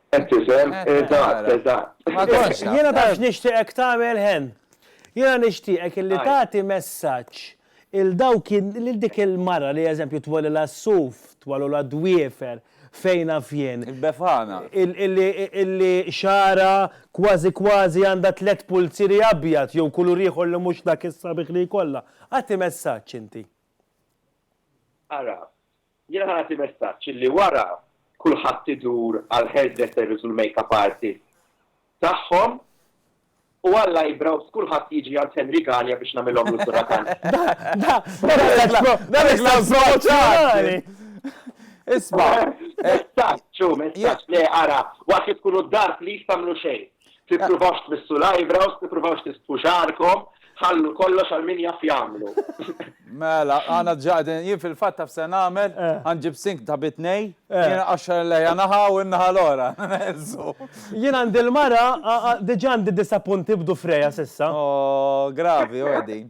Qed tifhem? Eżatt, eżatt. Ma kontx naf. Jiena taf x'nixtieqek tagħmel Hen? Jiena nixtieqek illi tagħti messaġġ lil dawk lil dik il-mara li eżempju twellilha s-suf, twellulha d-dwiefer, fejn naf jien. Il-befana. Illi xagħarha kważi kważi għandha tliet pulzieri abjad jew kulur ieħor li mhux dak is-sabiħ li jkollha. Agħti messaġġ inti. Ara, Jiena nagħti messaġġ li wara kulħadd idur għall-hairdressers u l-makeup artists tagħhom u għall-eyebrows kulħadd jiġi għand Henry Galea biex nagħmilhomlu sura tant. Isma'. Messaġġ hu messaġġ. Le ara, waqt li tkunu d-dar please tagħmlu xejn. Tippruvawx tmissu l-eyebrows, tippruvawx tisbħu xagħarkom, ħallu kollox għal min jaf jagħmlu. Mela, għana ġaqdin, jien fil-fatt taf se nagħmel, ħanġib sink ta' bi tnej, jien qaxxar il-lejja naħa u n-naħa l-oħra. Jien għandi l-mara, diġà għandi disa' punti b'dufrejha s'issa. Ohh, gravi, ora din.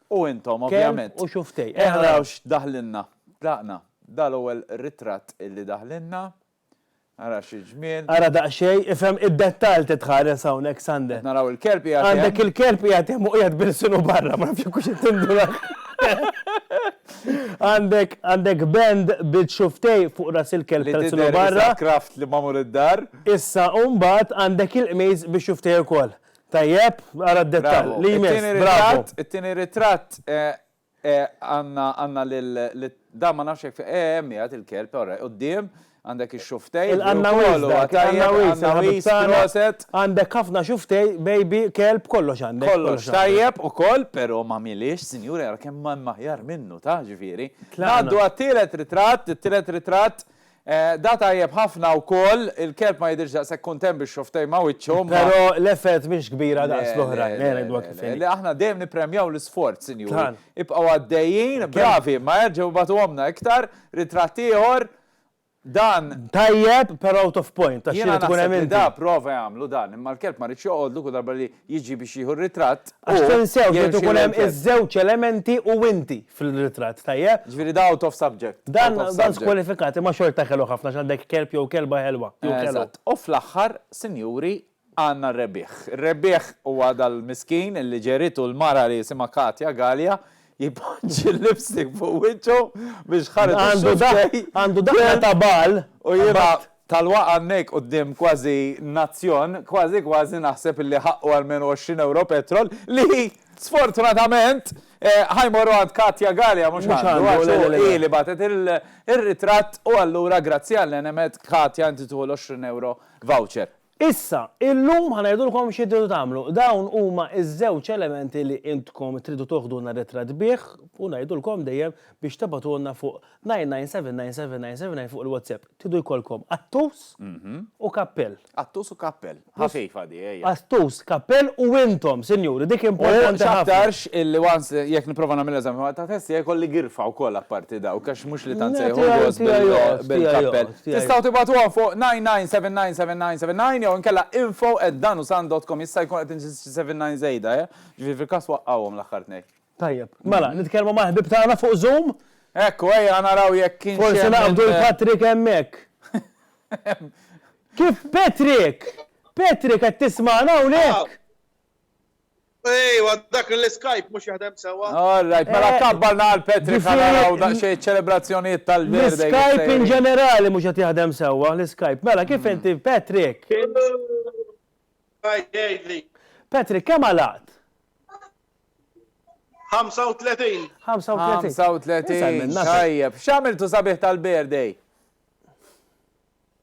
U intom, ovvjament. Kelb u xuftej. Ejja naraw x'daħlilna. Tlaqna. Dan l-ewwel ritratt li daħlilna. Ara xi ġmiel. Ara daqsxejn, ifhem id-dettall trid tħares hawn hekk Sande. Qed naraw il-kelb qiegħed hemm. Għandek il-kelb qiegħed hemm u qiegħed b'ilsnu barra, ma nafx jekk hux qed tindurak. Għandek, għandek band bil-xuftej fuq ras il-kelb tal-ilsnu barra. Li tidher li sakraft li magħmul id-dar. Issa u mbagħad għandek il-qmis bix-xuftej ukoll. Tajjeb, ara d-dettall. Li jmiss, bravo. It-tieni ritratt għandna lil, dan ma nafx jekk, hemm qiegħed il-kelb, all right, quddiem, għandek ix-xuftej. Il-qannawis dak, il-qannawis, il-ħabitzana, għandek ħafna xuftej, baby, kelb, kollox għandek. Kollox tajjeb ukoll, però ma mhiliex, sinjuri, ara kemm hemm aħjar minnu, taf, ġifieri. Ngħaddu għat-tielet ritratt, it-tielet ritratt Da tajjeb ħafna wkoll, il-kelb ma jidhirx daqshekk kuntent bix-xofftejn ma' wiċċu, imma. Però l-effett mhix kbira daqs l-oħrajn, eh ngħidlek kif inhi. Le, le, le, aħna dejjem nippremjaw l-isforz, sinjuri. Ibqgħu għaddejjin, bravi, imma erġgħu ibagħtuhomlna iktar, ritratt ieħor, dan. Tajjeb, però out of point, għax trid tkun hemm inti. Jiena naħseb li da prova jagħmlu dan, imma l-kelb ma ridx joqgħodlu kull darba li jiġi biex jieħu r-ritratt, hu. Għax tinsew, irid ikun hemm iż-żewġ elementi u inti. fil-ritratt, tajjeb? Ġifieri da out of subject. Dan dan skwalifikat, imma xorta ħelu ħafna għax għandek kelb jew kelba ħelwa. Eżatt. U fl-aħħar, sinjuri, għandna r-rebbieħ. Ir-rebbieħ huwa dal-miskin illi ġeritu l-mara li jisimha Katja Galea jpoġġi l-lipstick fuq wiċċu biex ħareġ ix-xufftej. Għandu daqqa ta' bagħal. U jiena Talwa hawnhekk quddiem kważi nazzjon, kważi kważi naħseb illi ħaqqu almenu għoxrin ewro petrol li sfortunatament ħa jmorru għand Katia Galea mhux għandu għax hu hi li bagħtet ir-ritratt u allura grazzi għall-għenemet Katia inti tieħu l-għoxrin ewro voucher. Issa, illum ħa ngħidulkom xi tridu tagħmlu. Dawn huma ż-żewġ elementi li intkom tridu toħdulna ritratt bih u ngħidulkom dejjem biex tibgħatulna fuq 99797979 fuq il-WhatsApp. Tridu jkollkom qattus u kappell. Qattus u kappell. Ħafifa di, ejja. Qattus, kappell u intom, sinjuri, dik importanti ħafna. U x'aktarx illi once jekk nipprova nagħmel eżami ta' test tiegħi jkolli girfa wkoll apparti dawk għax mhux li tant se jħobbos bil-kappell. Tistgħu tibgħatuha fuq 99799979 jew inkella info@danusan.com jista' jkun qed inżid xi 79 żejda, eh? Ġifieri fil-każ waqqgħuhom l-aħħar tnejn. Tajjeb. Mela, nitkellmu mal-ħbieb tagħna fuq Zoom? Ekku, ejja naraw jekk kienx hemm. Forsi naqbdu l-Patrick hemmhekk. Kif Patrick? Patrick qed tismagħna hawnhekk? Ejwa, dak l-Skype mhux jaħdem sewwa. All right, mela eh, kabbarna għal Patrick ħanaraw daqsxejn ċelebrazzjonijiet tal-birthday. L-Skype in ġenerali mhux qed jaħdem sewwa, l-Skype. Mela kif hmm. inti Patrick? Patrick, kemm għalaqt? 35. 35. 35. Tajjeb. X'għamiltu sabiħ tal-birthday?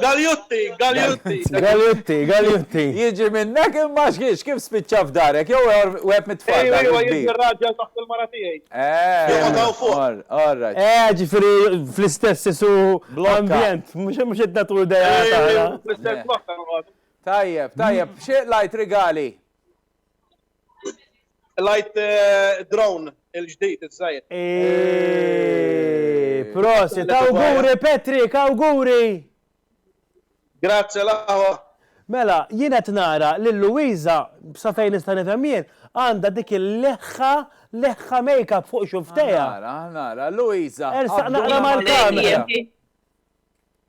Galjutti, Galjutti. Galjutti, Galjutti. Jiġi minnek imma xiex kif spiċċa f'darek, jew web mit-tfal. Ejwa, ejwa, jiġi r-raġel taħt il-mara tiegħi. Eh, għadaw fuq. Alright. Eh, ġifiri fl-istess isu ambjent, mhux qed nagħtu idea tagħna. Fl-istess blokka Tajjeb, tajjeb, xi lajt rigali? Light eh, drone il-ġdid iż-żgħir. Prosit, awguri Patrick, awguri! Grazie laħwa. Mela, jien qed nara li Luisa, sa fejn nista' nifhem jien, għandha dik il-leħħa leħħa make-up fuq xuftejha. Nara, nara, Luisa. Ersaq naqra mal-kamera.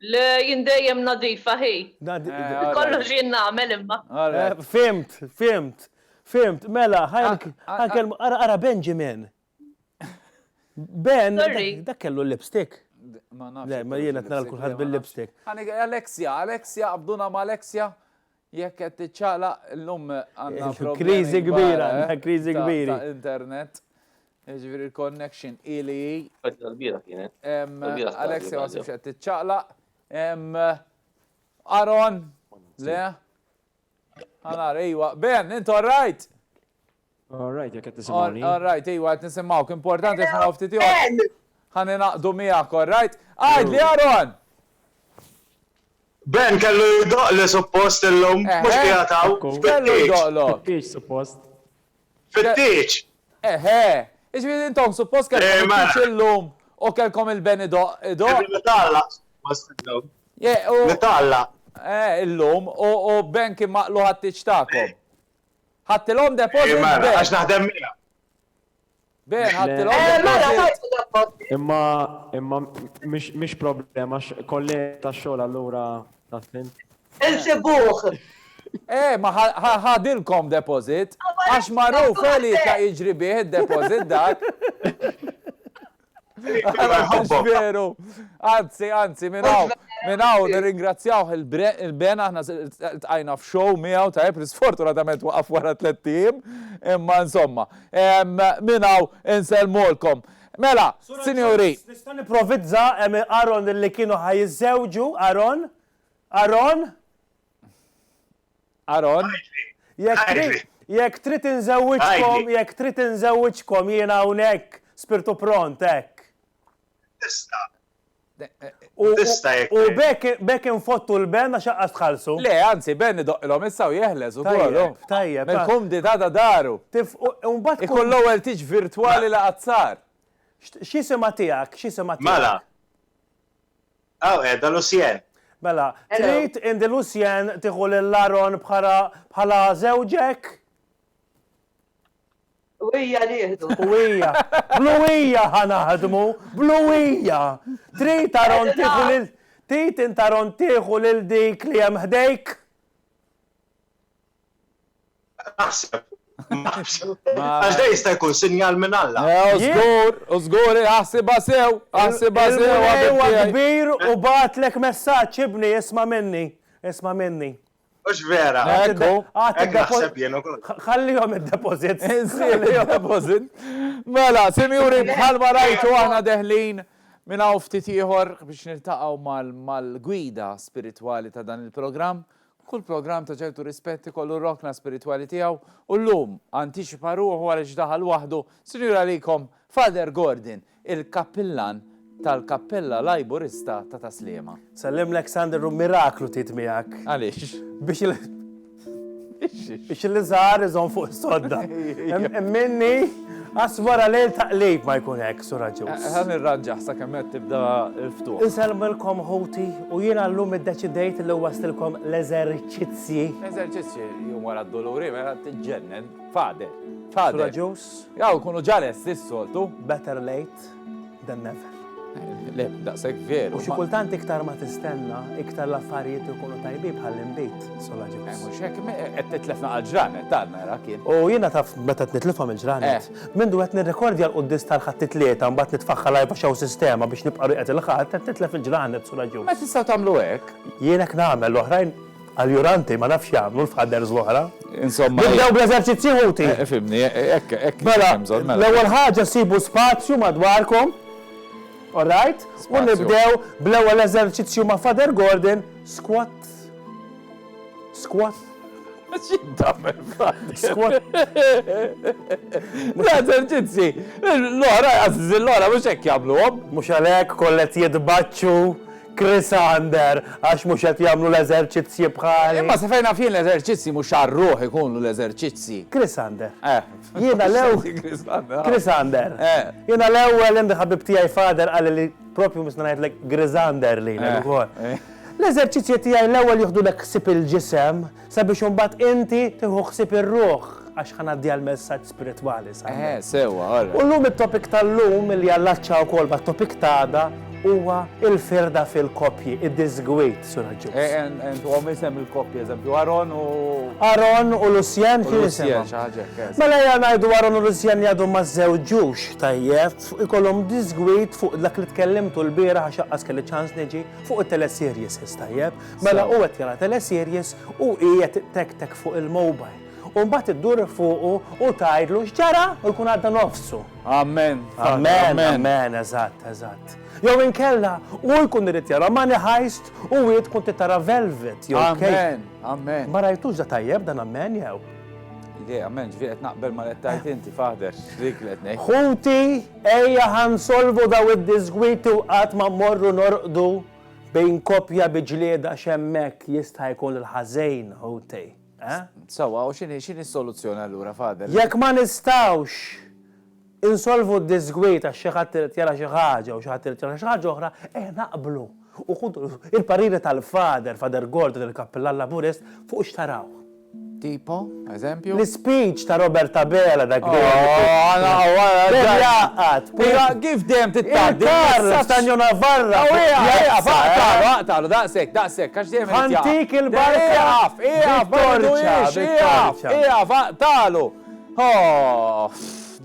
Le, jien dejjem nadifa hi. Kollox jien nagħmel imma. Fhimt, fhimt, fhimt. Mela, ħa nkellmu, ara, ara Benjamin. Ben, dak kellu l-lipstick? Le, ma jien qed nara lil kulħadd bil-lipstick. Alexia, Alexia, qabduna ma' Alexia. Jekk qed tiċċaqlaq illum għandna kriżi kbira, għandna kriżi kbira. Ta' internet, jiġifieri l-connection ili hi. Tal-bira kienet. Alexia ma sibx qed tiċċaqlaq. Aron, le? Għanar, ejwa. Ben, intu rajt? All right, jek qed tisimgħuni. All right, iwa qed nisimgħuk. Importanti f'ħana ftit ieħor. Ħani naqdu miegħek, all right? Għad li Aaron! Ben kellu jdoqli suppost illum, eh, mhux eh. qiegħed hawn. Kellu jdoqlok. Fittieġ suppost. Fittieġ. Eħe, eh, iġifieri intom suppost kellkom fittieġ illum u kellkom il-ben idoq. Nitalla. Nitalla. Eh, illum, u Ben kien maqlu ħadd-tiċ tagħkom. Ħadtilhom deposit Iva, b'hekk. għax naħdem miegħek. B'hekk ħadtilhom Eh, mela, deposit. tajt fid-deposit. Imma, imma mhix mhix problema għax kollega tax-xogħol allura taf int. Insibuh. Eh, ma ħa ħa ħadilkom deposit. Għax magħruf eh li ka jiġri bih id-deposit dak. Veru. Anzi, anzi, minn hawn, minn hawn nirringrazzjawh il-ben aħna tqajna f'show miegħu ta' li sfortunatament waqaf wara tliet tim, imma insomma, minn hawn insellmulkom. Mela, sinjuri. Nista' nipprovizza hemm Aaron li kienu ħa jiżżewġu, Aaron? Aaron? Aron, jekk trid inżewwiġkom, jekk trid inżewwiġkom jiena hawnhekk spirtu pront hekk. Tista'. Tista' jekk. U bekk infottu l-ben għax aqqas tħallsu. Le, anzi, ben idoqqilhom issa u jeħles ukoll. Tajjeb, tajjeb. Mill-kumdità ta' daru. Imbagħad. Ikun l-ewwel tiġ virtwali li qatt sar. X'isimha tiegħek? X'isimha tiegħek? Mela. Hawn qiegħda Lucienne. Mela, trid inti Lucienne tieħu lil Aaron bħala żewġek? U hija nieħdu. U hija. Blu hija ħa naħdmu, blu hija. Trid Aaron tieħu lil Trid int Aaron tieħu lil dik li hemm ħdejk? Aħseb. Għax da jista' jkun sinjal minn Alla. Żgur, u żgur, aħsibha sew, aħsibha sew. Il-Mulej huwa kbir u bagħatlek messaġġ, ibni, isma' minni, isma' minni. Mhux vera. Ekku. Hekk naħseb jien ukoll. Ħallihom id-deposit. Ħallihom id-deposit. Mela, sinjuri, bħalma rajtu aħna deħlin minn hawn ftit ieħor biex niltaqgħu mal-gwida spiritwali ta' dan il-programm Kull programm ta' ċertu rispett ikollu r-rokna spiritwali tiegħu u llum antiċipa ruħu għaliex daħal waħdu, Sinjuri għalikom, Father Gordon, il-Kappillan tal-Kappella Lajburista ta' Ta' Sliema. Nsellimlek Sandra hu miraklu tgħid miegħek. Għaliex? Biex il. Biex il-iżgħar iżomm fuq is-sodda. Hemm minni. Għax wara lejl ta' qlib ma jkun hekk, Sur Agius. Ħa nirranġah sakemm qed tibda l-ftuħ. Insellmilkom ħuti u jiena llum iddeċidejt li nwasslilkom l-eżerċizzji. Eżerċizzji jum wara d-duluri mela tiġġennen. Father. Father. Sur Agius. Aw, ikunu ġa lesti s-soltu. Better late. than never. Le, daqshekk veru. U xi kultant iktar ma tistenna, iktar l-affarijiet ikunu tajbi bħal imbit sola ġibs. Eh, mhux hekk, qed titlefna għal ġranet dan mera kien. U jiena taf meta tnitlifhom il-ġranet. Eh. Minn qed nirrekordja l-quddis tal-ħadd tlieta mbagħad nitfaħħal għajba xew sistema biex nibqa' rieqed il-ħadd qed titlef il-ġranet sola ġibs. Ma tistgħu tagħmlu hekk. Jien hekk nagħmel l-oħrajn Alluranti, ma nafx x'jagħmlu l-fathers l-oħra. Insomma. Nibdew bl-eżerċizzji ħuti. Eh, fimni, eh, eh, hekk hekk. Mela, mela, l-ewwel ħaġa sibu spazju madwarkom. All right? U nibdew bl-ewwel eżerċizzju ma' Father Gordon, squat. Squat. X'jiddammel Squat. L-eżerċizzji, l-oħra, għażiż l-oħra, mhux hekk jagħmluhom. Mhux għalhekk kollet jitbaċċu Chris Ander, għax mhux qed jagħmlu l-eżerċizzji bħali. Imma sa fejn naf jien l-eżerċizzji mhux għar-ruħ ikunu l-eżerċizzji. Chris Ander. Eh. Jiena l-ewwel. Chris Ander. Chris Ander. Eh. Jiena l-ewwel hemm ħabib tiegħi fader qal li propju mhux ngħidlek Grisander li eh. ukoll. Eh. L-eżerċizzji tiegħi l-ewwel jieħdu l ħsieb il-ġisem, Sabiex imbagħad inti tieħu ħsieb ir-ruħ għax ħa ngħaddiha l-messaġġ spiritwali sa. Eħe, sewwa, all right. U llum it-topic tal-lum li jallaċċa wkoll mat-topic ta' għada huwa l-firda fil-koppji, id-disgwid, Sur Aġġus. Eh, and, and huwa isem il-koppja, eżempju, Aron u. Aron u Lucien kien Lucien, isimhom. xi ħaġa hekk, yes. Mela ja ngħidu Aron u Lucien jgħadu ma żewġux tajjeb, fuq ikollhom disgwid fuq dak li tkellimtu l-bieraħ għax aqqas kelli ċans niġi fuq it-teleserjes is tajjeb. Mela hu qed jara teleseries u hi qed ittektek fuq il-mobile. U mbagħad iddur fuqu u tgħidlu x'ġara u jkun għadda nofsu. Amen. Amen, amen, eżatt, eżatt. Jew inkella hu jkun irid jara Money Heist u hi tkun trid tara Velvet jew Amen, amen. Ma rajtux da tajjeb dan amen jew? Le, amen, ġifieri qed naqbel ma qed tgħid inti faħder, dik li qed ngħid. Ħuti, ejja ħa nsolvu daw id-disgwiti u qatt ma mmorru norqdu Bejn koppja bi ġlieda x'hemmhekk jista' jkun il-ħażejn hu tej, eh? Sewwa, u x'inhi x'inhi s-soluzzjoni allura, Father? Jekk ma nistgħux insolvu d-diżgwid għax xi ħadd irid jara xi ħaġa u xi ħadd irid jara xi ħaġa oħra, ejja naqblu u ħudu il-pariri tal-Father, Father Gordon, il-Kappillan Laburist, fuq x'tarawh. Tipo, eżempju? L-ispeech ta' Robert Abela dak dejjem ikun. Dejjem jgħaqqad. Iva, kif dejjem titgħaddi. Il-karra ta' Njo Navarra. Aqtagħlu, aqtagħlu, daqshekk, daqshekk, għax dejjem irid jgħaqqad. Ħantik il-barka. Ieqaf, ieqaf, ma tgħidulix, ieqaf, ieqaf, aqtagħlu.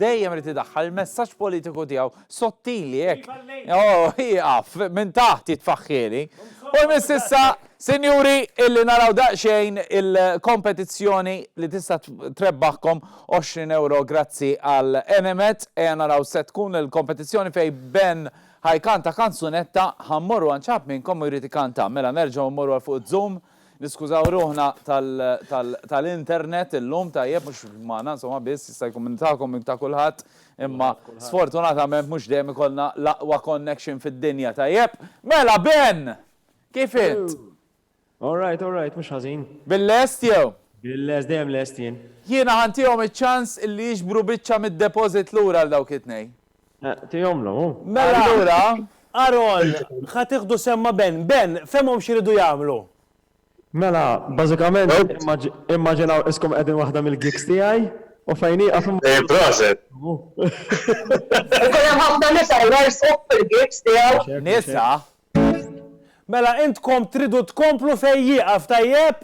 Dejjem irid idaħħal il-messaġġ politiku tiegħu. Sottili hekk. Oh, ieqaf, minn taħt jitfaħħieli. U jmiss issa, sinjuri, illi naraw daqsxejn il-kompetizzjoni li tista' trebbaħkom 20 ewro grazzi għal Enemed. Ejja naraw se tkun il-kompetizzjoni fejn Ben ħajkanta kanzunetta, ħa mmorru għand xi ħadd minnkom u jrid ikanta. Mela nerġgħu mmorru għal fuq iż-Zoom. Niskużaw ruħna tal-internet illum, tajjeb, mhux magħna insomma biss, jista' jkun minn tagħkom, minn ta' kulħadd, imma sfortunatament mhux dejjem ikollna l-aqwa connection fid-dinja, tajjeb? Mela Ben! Kif int? All right, all right, mhux ħażin. Bil-lest jew? Bil-lest, dejjem lest jien. Jiena ħa ntihom iċ-ċans illi jiġbru biċċa mid-deposit lura għal dawk it-tnejn. Tihomlu, hu. Mela, Aaron, ħa tieħdu sehem ma' Ben. Ben, fehmhom x'iridu jagħmlu. Mela, bażikament, immaġinaw iskom qegħdin waħda mill-gigs tiegħi u fejn nieqaf imma. Ejja, proset! Ikun hemm ħafna nisa jwerżqu fil-gigs tiegħu. Nisa? Mela, intkom tridu tkomplu fejn jieqaf, tajjeb?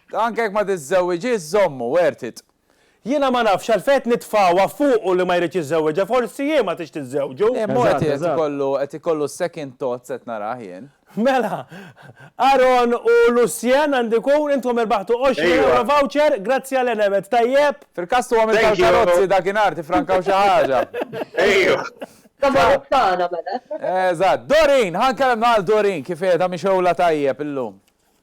Anke jekk ma tiżżewwiġiex żommu, worth it. Jiena ma nafx għalfejn qed nitfgħuha fuqu li ma jridx iżżewwiġha, forsi hi ma tridx tiżżewġu. Le mhu qed ikollu qed ikollu second thoughts qed narah jien. Mela, Aaron u Lucien għandu jkun, intkom irbaħtu għoxrin ewro voucher, grazzi għal Enemed, tajjeb? Fil-każ tu għamilt tal-karozzi dakinhar tiffrankaw xi ħaġa. Ejju. Tagħmel tagħna mela. Eżatt. Doreen, ħa nkellem lil Doreen kif qiegħda mixewla tajjeb illum.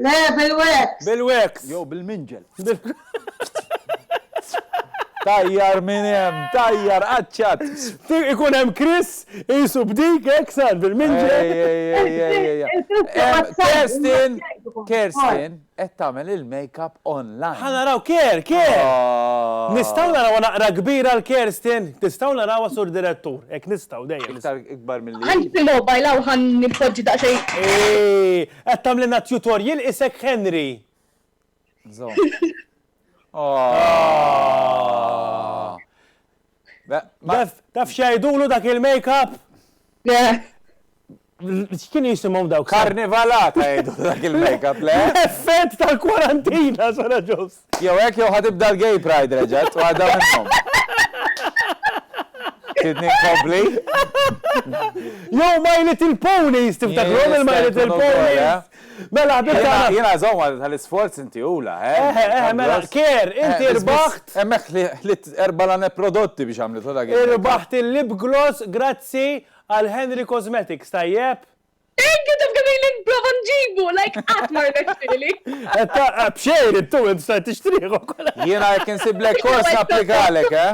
Le, bil-wax! Bil-wax! Jew bil-minġel. Tajjar minn hemm, tajjar qaċċat! Ikun hemm Chris qisu b'dik hekk sar bil-minġel. Kerstin, Kerstin, qed tagħmel il-makeup online. Ħa naraw Ker, Ker! Nistgħu narawha naqra kbira l-Kerstin? Nistgħu narawha Sur Direttur? Hekk nistgħu dejjem. Iktar ikbar milli. Ħa nitilgħu bajlaw ħa npoġġi daqsxejn. Qed tagħmlilna tutorial isek Henry. Żomm. Taf taf x'jgħidulu dak il-makeup? X'kienu jisimhom dawk? Karnivalata jgħidulu dak il-makeup, le? L-effett tal-kwarantina, Sara Ġobs. Jew hekk jew ħa tibda l-gay pride reġgħet, waħda minnhom. Tridni nkompli? Jew My Little Ponies, tiftakrom il-My Little Ponies? Mela ħbib tagħna. Jiena żomma tal-isforz inti ula, eh? Eh, eh, eh mela kier, eh, inti rbaħt. Hemmhekk ħlit erba' lane prodotti biex għamlet dak. Irbaħt il-lip gloss grazzi għal Henry Cosmetics, tajjeb? Thank you, taf kemm ilni nprova nġibu, like qatt ma rnexxieli. B'xejn intu int stajt tixtrieħu. Jiena jekk insiblek kors napplikalek, eh?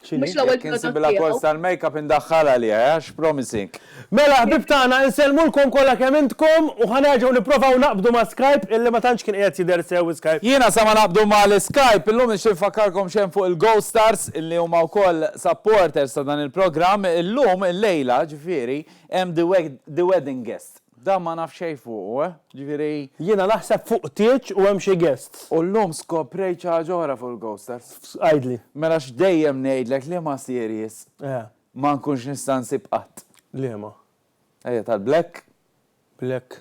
Mhux l-ewwel Jekk insibilha kors tal-makeup indaħħalha li għax promising. Mela ħbib tagħna insellmulkom kollha kemm intkom u ħa nerġgħu nipprovaw naqbdu ma' Skype illi ma tantx kien qiegħed jidher sew Skype. Jiena sa ma naqbdu mal-Skype illum nixtieq infakkarkom x'hemm fuq il-GoStars. li huma wkoll supporters ta' dan il-programm, illum, illejla, ġifieri, hemm The Wedding Guest. Dan ma naf xejn fuqu, eh? Ġifieri. Jiena naħseb fuq tieġ u hemm xi guests. U llum skoprejt xi ħaġa oħra fuq il-Ghosters. Għidli. Mela x'dejjem ngħidlek liema series ma nkunx nista' nsib qatt? Liema? Ejja tal-Black. Black.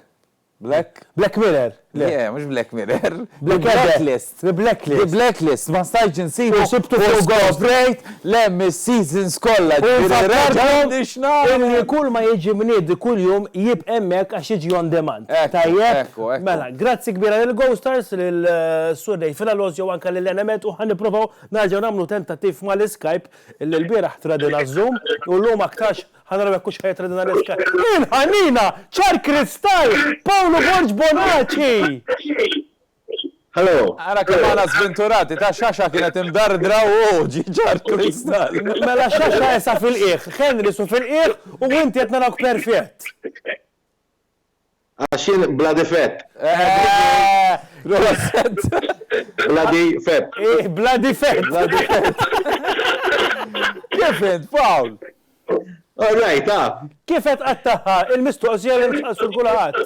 Black? Black Mirror, le. Le, mhux Black Mirror. The Blacklist. The Blacklist. The Blacklist, ma stajtx insibu. U sibtu fuq Ghost. U skoprejt li hemm is-seasons kollha, ġifieri reġgħet biex nara. U fakkarthom illi kull ma jiġi mniedi kuljum jibqa' hemmhekk għax jiġi on demand. Ekku, ekku, ekku. Tajjeb? Mela, grazzi kbira lil Ghostars, lil Sur Dave Flalosio u anke lil Enemed u ħa nipprovaw nerġgħu nagħmlu tentattiv mal-Skype illi lbieraħ tradina z-Zoom u llum aktarx Ħa naraw jekk hux ħa jitredna l-iskart. Il-ħanina! Ċar kristall! Pawlu Borg Bonaċi! Hello! Ara kemm aħna żvinturati, ta' xaxa kienet imdardra u għoġi ċar kristall! Mela xaxa isha fil-qiegħ, Henry su fil-qiegħ u inti qed narawk perfett! Għax jien bla difett. Proset. Bla difett. Ih, bla difett. Bla difett. Kif int, Pawl? All right, ha? Kif qed tqattagħha l-mistoqsija li nistaqsu 'l kulħadd?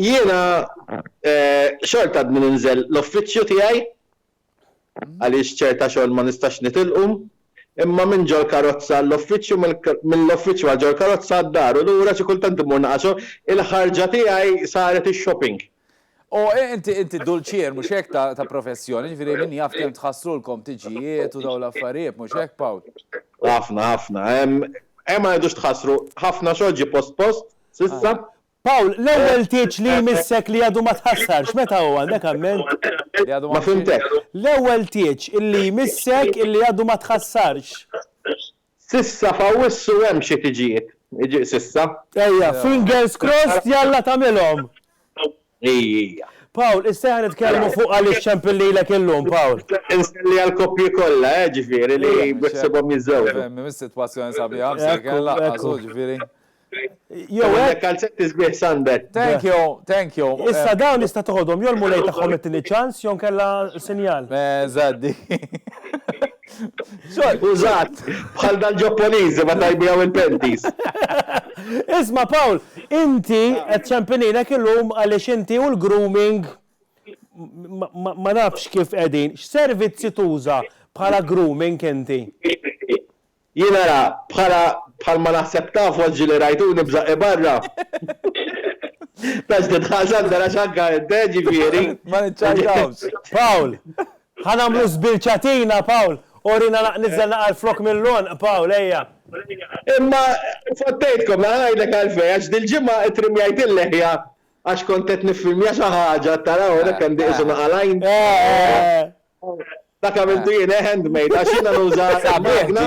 Jiena xorta għadni ninżel l-uffiċċju tiegħi. għaliex ċerta xogħol ma nistax nitilqu, imma minn ġol-karozza għall-uffiċċju, mill-uffiċċju għal ġol-karozza għad-dar u lura xi kultant immur naqra xogħol, il-ħarġa tiegħi saret ix-shopping. O, inti, inti dulċier, mhux hekk, ta', ta professjoni, ġifieri min jaf kemm tħassrulkom tiġijiet u dawn l-affarijiet, mhux hekk, Pawl? Ħafna, ħafna. Hemm, hemm ma rridux tħassru, ħafna xogħol ġie post post, s'issa. Pawl, l-ewwel tgħidx li jmissek li għadu ma tħassarx, meta hu, għandek amment? Li għadu ma fhimtekx. L-ewwel tgħidx li jmissek li għadu ma tħassarx. S'issa f'Awwissu hemm xi tiġijiet, iġieq s'issa. Ejja, fingers crossed jalla tagħmilhom. Ejja. Pawl, issa ejja nitkellmu fuq għaliex ċempil lilek illum, Pawl. Insellli għall-koppji kollha, eh, ġifieri, li beħsiebhom jiżżewġu. Fehmni, mis-sitwazzjoni sabiħa, msejken, laqqas hu, ġifieri. Jew għandek kalzetti sbieħ sunbed. Thank you, thank you. Issa dawn nista' toħodhom jew l-Mulej tagħhom ittini ċans jew nkella sinjal. Eżatti. Użat, bħal dal-Ġopponiżi meta jbijaw il-pentis. Isma' Pawl, inti qed ċempininek illum għaliex inti u l-grooming ma nafx kif qegħdin. X'servizzi tuża bħala grooming inti? Jien ara, bħala, bħalma naħseb tafu għax ġieli rajtuni b'żaqqi barra. Tax tidħaq Sandra għax anke int, eh, ġifieri. Ma niċċajtawx. Pawl, Ħa nagħmlu żbilċatina, Pawl, urina naq niżżel naqra l-flokk mill-għonq, Pawl, ejja. Imma fottejtkom, mela ngħidlek għalfejn, għax dil-ġimgħa ittrimjajt il-leħja għax kont qed niffilmja xi ħaġa, tara hawn hekk għandi qisu naqa' l-għajn. Dak għamiltu jien, eh, handmade, għax jiena nuża magna.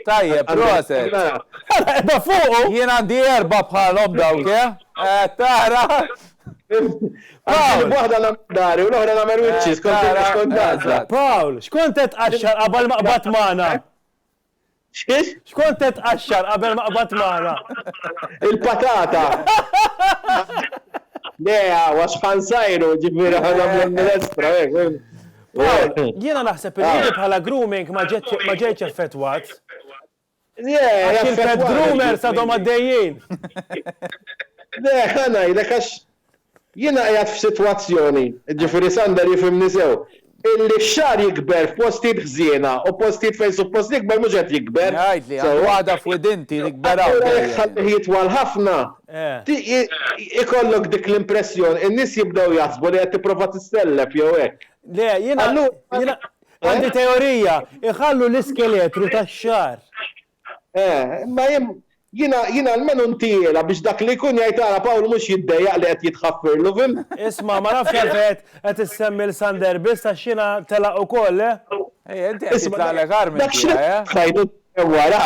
Tajjeb, proset. Erba fuqu! Jien għandi erba bħalhom dawk, eh? eh tara! Pawl! Waħda l-amdari, u l-oħra l-amer eh, witches, kont għazza. Pawl, xkont qed qaxxar qabel maqbad magħna? X'kif? X'kont qed tqaxxar qabel ma qbadt magħna? Il-patata! Le, għax Ħan sajru, ġifieri ħa nagħmlu l-minestra, hekk. Pawl, jiena naħseb li di bħala grooming ma ġejtx effettwat. Għax il-pet groomers għadhom għaddejjin. Le, ħa ngħidlek għax Jiena qiegħed f'sitwazzjoni, jiġifieri Sander jifhimni sew, illi x-xagħar jikber f'postijiet ħżiena u postijiet fejn suppost jikber mhux qed jikber. Jgħidli, għandu għada f'widinti, nikber hawn dejjem. Allura jekk tħallih jitwal ħafna, ikollok dik l-impressjoni, in-nies jibdew jaħsbu li qed tipprova tissellef jew hekk. Le, jiena, jiena għandi teorija, iħallu l-iskeletru tax-xagħar. Eh, imma jien jiena jiena almenu ntihielha biex dak li jkun jgħid ara Pawl mhux jiddejjaq li qed jitħaffirlu, fhimt? Isma', ma nafx għalfejn qed issemmi 'l Sander biss għax jiena telaq ukoll, eh? Ejja, inti qed jitlaqlek agħar minn tiegħi, eh? Dak x'qed jgħid hemm wara?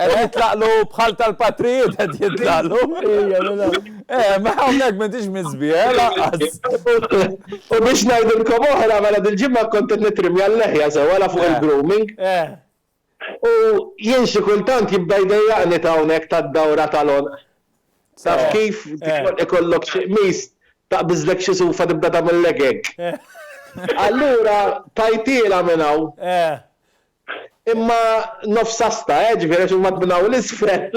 Qed jitlaqlu bħal tal-patrijiet qed jitlaqlu. Ejja, mela. Eh, ma hawnhekk m'intix miżbigħ, eh, lanqas. U biex ngħidilkom oħra, mela dil-ġimgħa kont qed nittrimja l-leħja sewwa la fuq il-grooming. Eh. U jien xi kultant jibda jdejjaqni t'hawnhekk tad-dawra tal-għonq. Taf kif? Ikollok xi qmis, taqbiżlek xi sufa tibda tagħmillek hekk. Allura tajtielha minn hawn. Imma nofs asta, eh, ġifieri għax huma minn hawn 'l isfel.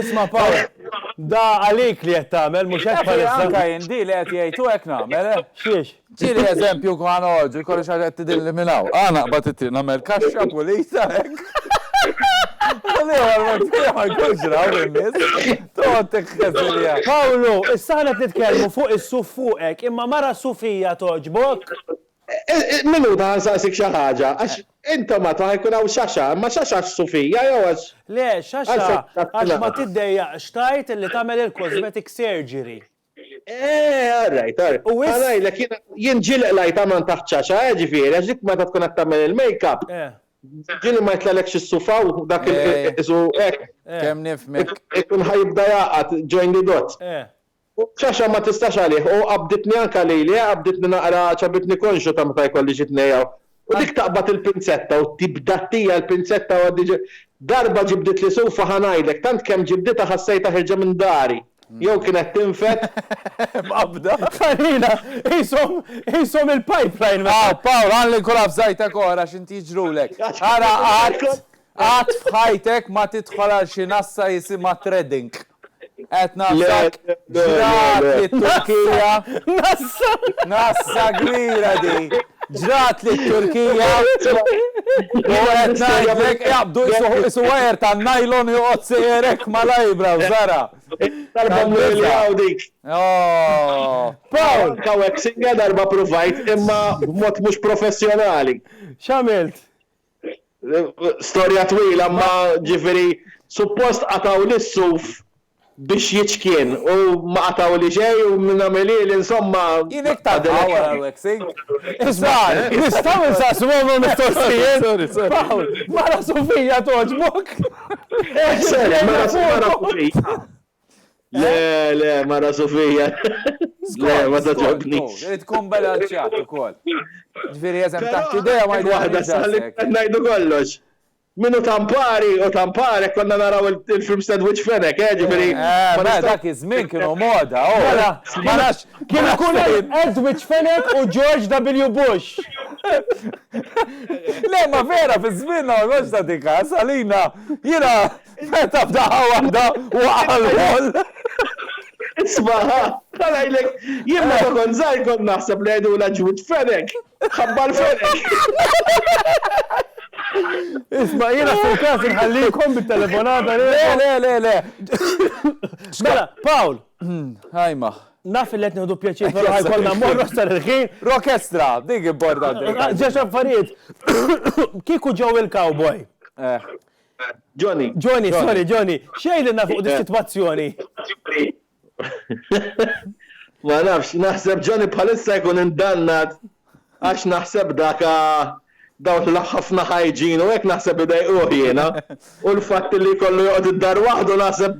Isma' Pawl, da għalik li qed tagħmel, mhux hekk bħalissa? Anke jien di li qed jgħid hu hekk nagħmel, eh. X'hiex? Ġieli eżempju kwa noħorġu, jkolli xi ħaġa qed tidhirli minn hawn. Qa naqbad it-triq nagħmel kaxxa pulita hekk. U l-ieħor ma jkunx raw min-nies. Toqgħod tikkeżilja. Pawlu, issa aħna qed nitkellmu fuq is-suf fuqek, imma mara sufija togħġbok? Mill-għodu ħa nsaqsik xi ħaġa, għax intom għad ħa jkun hawn xaxa, imma xaxa għax sufija jew għax? Le, xaxa għax ma tiddejjaqx tgħid li tagħmel il-cosmetic surgery. Eeh, all right, all right. U wisq. Għalajlek jiena, jien ġieli qlajt aman taħt xaxa, eeh, ġifieri, għax dik meta tkun qed tagħmel il-makeup, ġieli ma jitlgħalekx is-sufa u dak il, isu, hekk. Eeh. Kemm nifhmek. Ikun ħa jibda jgħaqad, join the dots. Eeh. U xaxa ma tistax għalih, u qabditni anka lili, eeh, qabditni naqra, ċabitni konxju ta' meta jkolli xi tnejja U dik taqbad il-pinzetta u tibdattija l-pinzetta u għaddi Darba ġibditli sufa ħa ngħidlek, tant kemm ġibditha ħassejtha ħirġa minn dari. Jew kienet tinfed. Mqabbda. Farina, qishom, qishom il-pipeline. Aw, Pawl, għan lil kulha f'żgħajtek oħra x'inti jiġrulek. Ara qatt, Qatt f'ħajtek ma tidħol għal xi nassa jisimha threading. Qed nafdak ġrat lit-Turkija. Nassa! Nassa kbira di. Ġrat lit-Turkija u qed ngħidlek jaqbdu qisu wire tan-nylon joqgħod sejjer hekk mal-eyebrows ara. Darba mmur li hawn dik. Pawl! Hawnhekk single darba pruvajt imma b'mod mhux professjonali. X'għamilt? Storja twila imma ġifieri suppost qatgħu lis-suf biex jiċkien u ma qatgħuli xejn u min għamel hieli insomma. Jien hekk tagħha wara l-waxing. Iż-żgħar, nistgħu insaqsu mama mistoqsijiet? Pawl, mara sufija togħġbok? Mara sufija. Le, le, mara Sofija. Le, ma taġobni. Tkun bella ċat u kol. Ġviri jazem taħt ideja ma jgħahda saħlik. Najdu kollox. Minu tampari u tampari konna naraw il-film sandwich fenek, eh, ġviri. Eh, ma dak iż-żmien kienu moda, oh. Mela, ma nafx. Kienu kun sandwich fenek u George W. Bush. Le, ma vera, fi żmien ma nafx ta' dikas, għalina, jina, Meta f'daqqa waħda waqa' l-ħol. Isma', ha, ta' ngħidlek, jien meta kont żgħir kont naħseb li jgħidulha Ġwid Fenech, ħabbar Fenech. Isma' jiena f'kull każ inħallikom bit-telefonata li. Le, le, le, le. Mela, Pawl. Ħajma. Naf li qed nieħdu pjaċir però ħajkollna mmorru aktar il-ħin. Rokestra, dik importanti. Ġex affarijiet. Kieku ġew il-cowboy. Eh. Johnny. Johnny, sorry, Johnny. Xejn li nafu di situazzjoni. Ma nafx, naħseb Johnny bħalissa jkun indannat għax naħseb daka dawn l-ħafna ħajġin u hekk naħseb idejquh jiena. U l-fatt li kollu joqgħod id-dar waħdu naħseb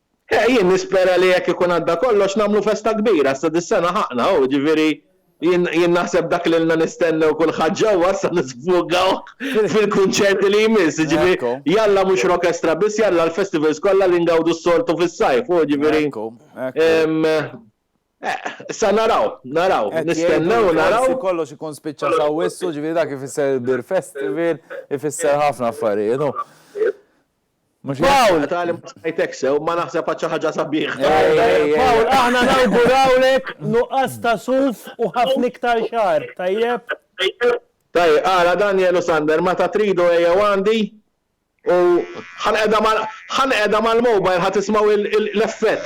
Eh, jien nispera li jekk ikun għadda kollox nagħmlu festa kbira, issa dis-sena ħaqna, hu, jiġifieri jien jien naħseb dak li ilna nistennew kulħadd ġewwa issa nisfogawh fil-kunċerti li jmiss, jiġifieri Ekku. jalla mhux Rockestra biss, jalla l-festivals kollha li ngawdu s-soltu fis-sajf, hu, jiġifieri Ekku, ekku. ehm, eh, issa naraw, naraw, Qed jgħidu nistennew u li naraw. forsi kollox ikun spiċċa f'Awwissu, jiġifieri dak ifisser il-Beer Festival, ifisser ħafna affarijiet, hu. Paul! Tali ma smajtek sew, ma naħseb għad xi ħaġa sabiħa. Paul, aħna nawgurawlek nuqqas ta' suf u ħafna iktar xahar, tajjeb? Tajjeb, ara Daniel u Sander, meta tridu ejjew għandi u ħa nqegħda mal-mobile ħa tismgħu l-effett.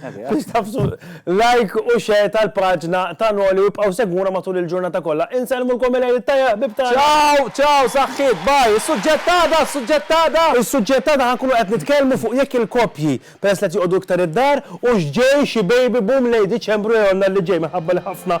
Biex tafsu like u share tal-paġna ta' Noli u ibqgħu segwuna matul il-ġurnata kollha. Insellmulkom il-Għid it-Tajjeb ħbieb tagħna. Ciao, ciao saħħiet, bye. Is-suġġett ta' għada, is-suġġett ta' għada. Is-suġġett ta' għada ħa nkunu qed nitkellmu fuq jekk il-koppji, peress li qed joqogħdu iktar id-dar, hux ġej xi baby boom lejn Diċembru jew Jannar li ġej minħabba li ħafna